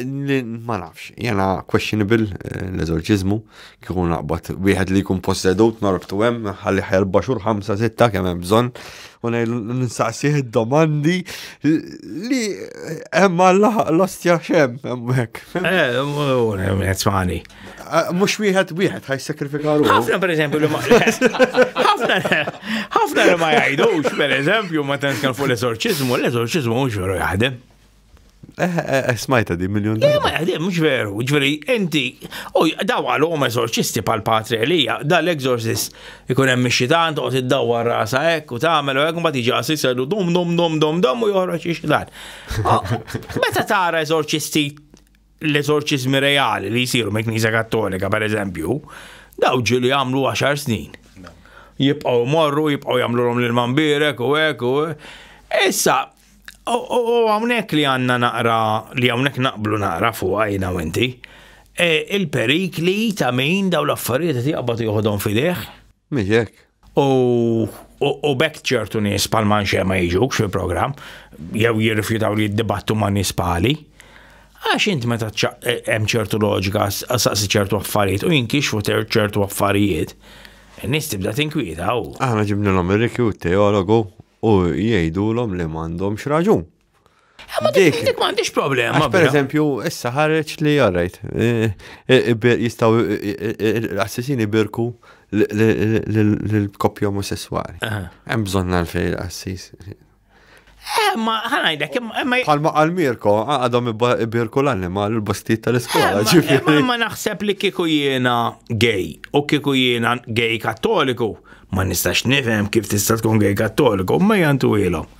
ma nafx, jena questionable eh, l-eżorċizmu, kikun naqbat wieħed li jkun possedut norbtu hemm, ħalli ħajr baxur 5-6 kemm hemm bżonn, u nistaqsih id-domandi li hemm għall-ostja xem hemm hekk. Eh, smani. Mux wieħed wieħed ħaj sakrifika ruħu. Ħafna per eżempju li ma. Ħafna ħafna li ma jgħidux per eżempju ma tantx kan fuq l-eżorċiżmu, l-eżorċiżmu mhux veru jaħdem. Eh, eh, eh, smajta di miljon. Le, ma jaħdem, mux veru, ġveri, enti, u daw għal-om eżorċisti pal-patri Elija, dal-exorcist ikun hemm xitan, toqgħod iddawwar rasa hekk u tagħmel u hekk mbagħad jiġi għasis jgħidu dum dum dum dum dum u joħroġ ix-xitan. Meta tara eżorċisti l-eżorċiżmi reali li jsiru me Knisja Kattolika, per eżempju, daw ġili għamlu 10 snin. Jibqaw morru, jibqaw jagħmlu l-om l-mambirek u hekk u Issa, u hawnhekk li għandna naqra li hawnhekk naqblu naqra fuq għajna u inti. E, il-perikli ta' min daw l-affarijiet qed jaqbad joħodhom fideh. Miexek, U bekk ċertu nies pal manxe ma jiġux fil-programm, jew jirrifjutaw li jiddibattu ma' nies pali. Għax int meta e, hemm ċertu loġika, saqsi ċertu affarijiet u jinkixfu ċertu affarijiet, nis tibda tinkwieta u. Aħna ġibnilhom ir-rikju teologu u jgħidulhom li m'għandhomx raġun. Ma dik dik m'għandix problema. Per eżempju, issa ħareġ li jarrajt. Eh, eh, eh, jistaw l-assessini birku l-koppja omosessuali. Hemm bżonn għalfej l-assis. Ma ħanajdek, ma. Palma għal Mirko, għadhom birku l-anima l-bastiet tal-iskola. Ma naħseb li kiku jiena gay u kiku jiena gay kattoliku. Ma nistax nifhem kif tista' tkun gay kattoliku, ma jantu ilhom.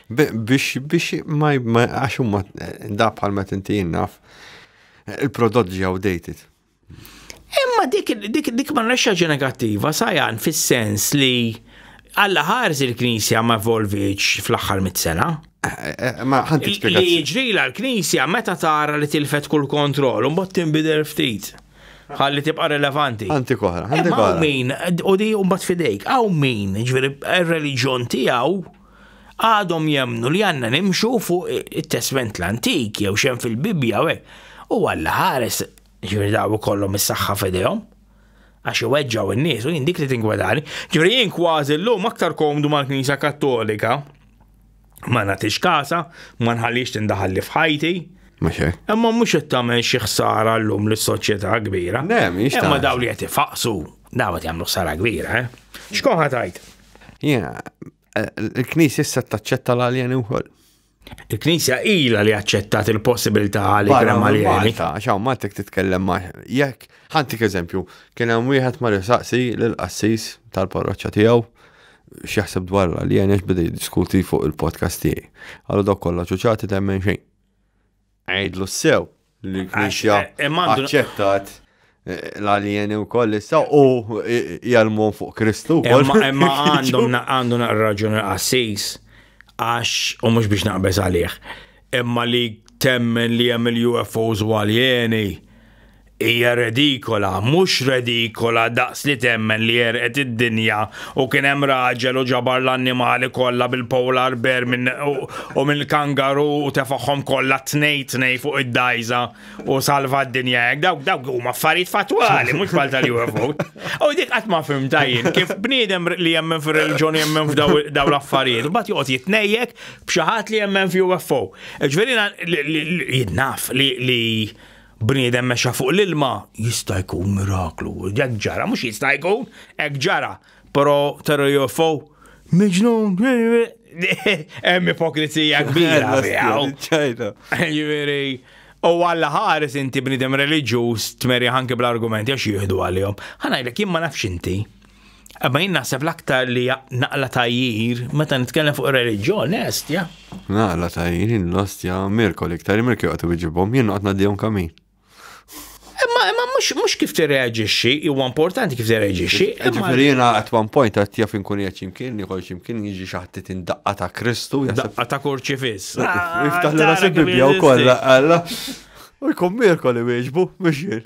Biex, biex, ma, għax huma da bħal ma tinti jinnaf, il-prodott ġi outdated. Imma dik, dik, dik ma nrexxaġi negattiva, sajan fis-sens li għalla ħarż il-Knisja ma volviċ fl-aħħar mit-sena. Eh, eh, ma ħanti Li jiġrila l-Knisja meta tara li tilfet kull kontroll, un bot timbidel ftit ħalli tibqa relevanti. Anti koħra, għanti koħra. Min, u di un bat fidejk, għaw min, ġveri, il-reġjon tijaw, għadhom jemmnu li għandna nimxu fuq it-Testment l-Antik jew xem fil-Bibbja u hekk. U Alla ħares ġifieri daw ikollhom is-saħħa f'idejhom għax iweġġaw in-nies u jien dik li tingwadani. Ġifieri jien kważi llum aktar komdu mal-Knisja Kattolika ma nagħtix kasa, ma nħallix tindaħalli f'ħajti. Imma mhux qed tagħmel xi ħsara llum lis-soċjetà kbira. Imma daw li qed ifaqsu daw qed jagħmlu ħsara kbira, eh. X'kun ħatajt? Yeah, il-Knisja issa taċċetta l-aljeni wkoll. Il-Knisja ila li aċċettat il-possibilità li kien aljeni. Xaw, ma tek titkellem ma' jekk, ħantik eżempju, kien hemm wieħed ma risaqsi l-qassis tal-parroċċa tiegħu x'jaħseb dwar l-aljeni x'bidi diskuti fuq il-podcast tiegħi. Għallu dok kollha ċuċati temmen xejn. Għidlu sew li l-Knisja aċċettat l-aljeni u koll issa u jgħalmon fuq Kristu. Imma għandu raġun għassis għax u mux biex naqbeż għalih. Imma li temmen li jem il-UFOs u aljeni Hija redikola, mhux redikola daqs li temmen li għerqet id-dinja u kien hemm raġel u ġabar l-annimali kollha bil-polar bear minn u mill-kangaroo u tefagħhom kollha t-tnej tnej fuq id-dgħajża u salva d-dinja hekk. Dawk dawk huma affarijiet fattwali, mhux bħal tal-UFO. U dik qatt ma fhimtha jien kif bniedem li jemmen fir-reliġjon u jemmen f'dawn l-affarijiet, imbagħad joqgħod jitnejjek b'xi ħadd li jemmen f'UFO. Ġifieri jien naf li Bniedem mexa fuq l-ilma, jista' jkun miraklu. Hekk ġara, mhux jista' jkun, hekk ġara. Però tara UFO, miġnun, hemm ipokrizija kbira. Ġifieri, u Alla ħares inti bniedem reliġjuż tmeri ħanki bl-argumenti għax jieħdu għalihom. Ħa ngħidlek jien ma nafx inti, Imma jien naħseb l-aktar li naqla tajjir, meta nitkellem fuq reliġjon, estja. Naqla tajjir, l-ostja, Mirko l-iktar, Mirko għatu bieġibom, jien għatna d-dijom kamin. Imma imma mhux kif tirreaġixxi, huwa importanti kif tirreaġixxi. Imma jiena at one point qed jaf inkun qed x'imkien, nieħol x'imkien jiġi xi ħadd indaqqa ta' Kristu. Daqqa ta' kurċifiss. Iftaħ l-ras il-Bibbja wkoll, alla. U jkun Mirko li wieġbu, mhux jien.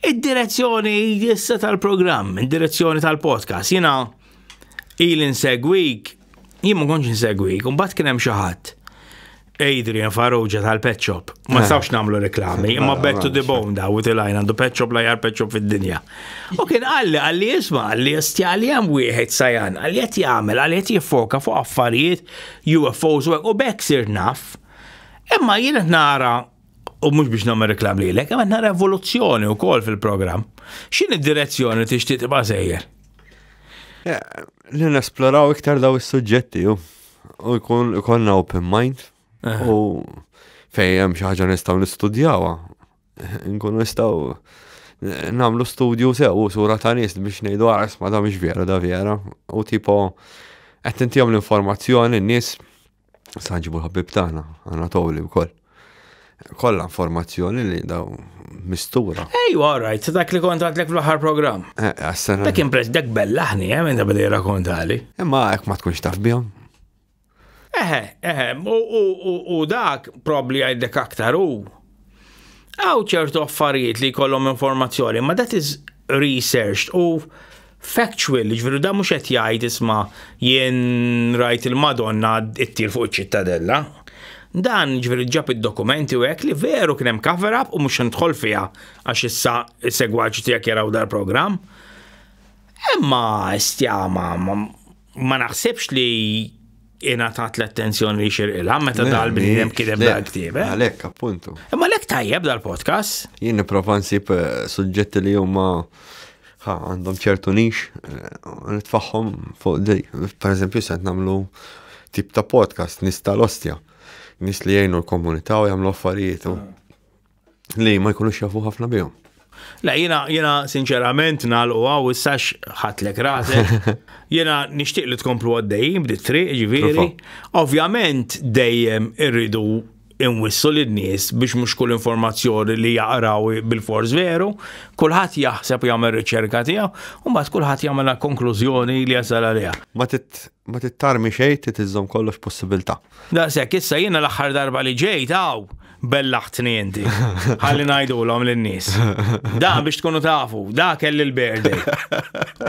Id-direzzjoni jissa tal-programm, id-direzzjoni tal-podcast, jina il insegwik, jien ma konċ insegwik, un bat kienem xaħat. Adrian Farrugia tal-Pet Shop. Ma eh. stawx namlu reklami, imma eh, bettu di bom da, u tilajn għandu Pet Shop la jar Pet Shop fid-dinja. U kien għalli, għalli jisma, għalli jistjali għam wieħed sajan, għalli jett jgħamil, għalli jett jiffoka fuq affarijiet UFOs u bekk sir naf. Imma jien nara u mhux biex nagħmel reklam lilek, imma nara evoluzzjoni wkoll fil-programm. X'in id-direzzjoni li tixtieq tibqa' sejjer? Li nesploraw iktar daw is-suġġetti u jkun ikonna open mind eh. u fejn hemm xi ħaġa nistgħu nistudjawha. Nkunu nistgħu eh, nagħmlu studju sew u sura ta' nies biex ngħidu għares ah, ma da mhix vera da vera u tipo qed tintihom l-informazzjoni n-nies Sanġibu l-ħabib tagħna, Anatoli wkoll. Kollha informazzjoni li daw mistura. Ej, all right, dak li kont għadlek fl-aħħar programm. Eh, għas-sena. Dak impress dak bellaħni, eh, minn da bada jirrakontali. Imma hekk ma tkunx taf bihom. Eħe, eħe, u dak probli għajdek aktar u Għaw ċertu affarijiet li jkollhom informazzjoni, ma that is researched u factual, ġveru da mux qed jgħid isma jien rajt il-Madonna ittir fuq iċ-ċittadella. Dan ġveru ġab id-dokumenti u hekk li veru kien hemm cover up u mhux nidħol fiha għax issa segwaċi tiegħek jaraw dal-programm. Imma stjama ma naħsibx li ingħatat l-attenzjoni li xirqilha meta dal-bniedem kiteb dal-ktieb. Eh? Għalhekk appuntu. Imma lek tajjeb dal-podcast. Jien nipprova nsib eh, suġġetti li huma għandhom ċertu nix, eh, nitfaħħom fuq di. Per eżempju, se namlu tip ta' podcast, nista l-ostja, nis li jgħinu l-komunità u jgħamlu affarijiet. Ah. li ma jkunux jafu ħafna bihom. La, jina, jina sinċerament nalqu għaw issax ħatlek rasek. Jina nishtiq li tkomplu għaddej, bdiet triq, ġiviri. Ovvjament dejjem irridu inwissu l nies biex mhux kull informazzjoni li jaqraw bil-fors veru, kulħadd jaħseb jagħmel riċerka tiegħu, u mbagħad kulħadd jagħmel konklużjoni li jasal għaliha. Ma tit Ma tittarmi xejn, trid iżżomm kollox possibilità. Daqshekk, issa jiena l-aħħar darba li ġejt hawn bellaħtni inti. Ħalli ngħidulhom lin-nies. Da biex tkunu tafu, da kelli l-birthday.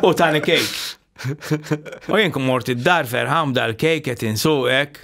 U tani kejk. U jien mort id-dar ferħam dal-kejk qed insuqek.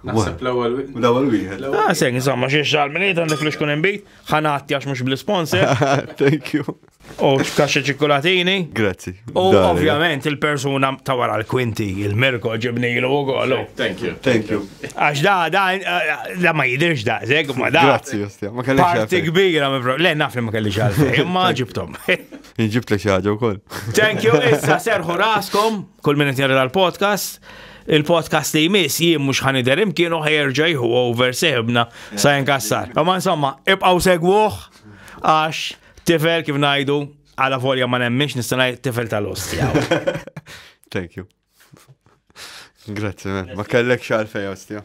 Naħseb l-ewwel wieħed. L-ewwel wieħed. Ah, sejn, insomma, xi xar minn id għandek li xkun imbit, ħanati għax mhux bl-sponsor. Thank you. U kaxxa ċikkulatini. Grazzi. U ovvjament il-persuna ta' wara l-kwinti, il-Mirko ġibnilu u kollu. Thank you. Thank you. Għax da, da, da ma jidirx da, zeg, ma da. Grazzi, jostja, ma kellix. Parti kbira, ma fro. Le, naf li ma kellix għalfej, imma ġibtom. Ġibt li xaġa u koll. Thank you, issa serħu raskom, kull minnet jarra l-podcast. Il-podcast li jmiss jien mhux ħanider imkien u ħajerġa jħu over seħbna sa jinkassar. Ma insomma, ibqgħu segwuh għax tifel kif ngħidu għala volja ma nemmix nista' tifel tal-ostja. Thank you. Grazie, ma kellek xalfej ostja.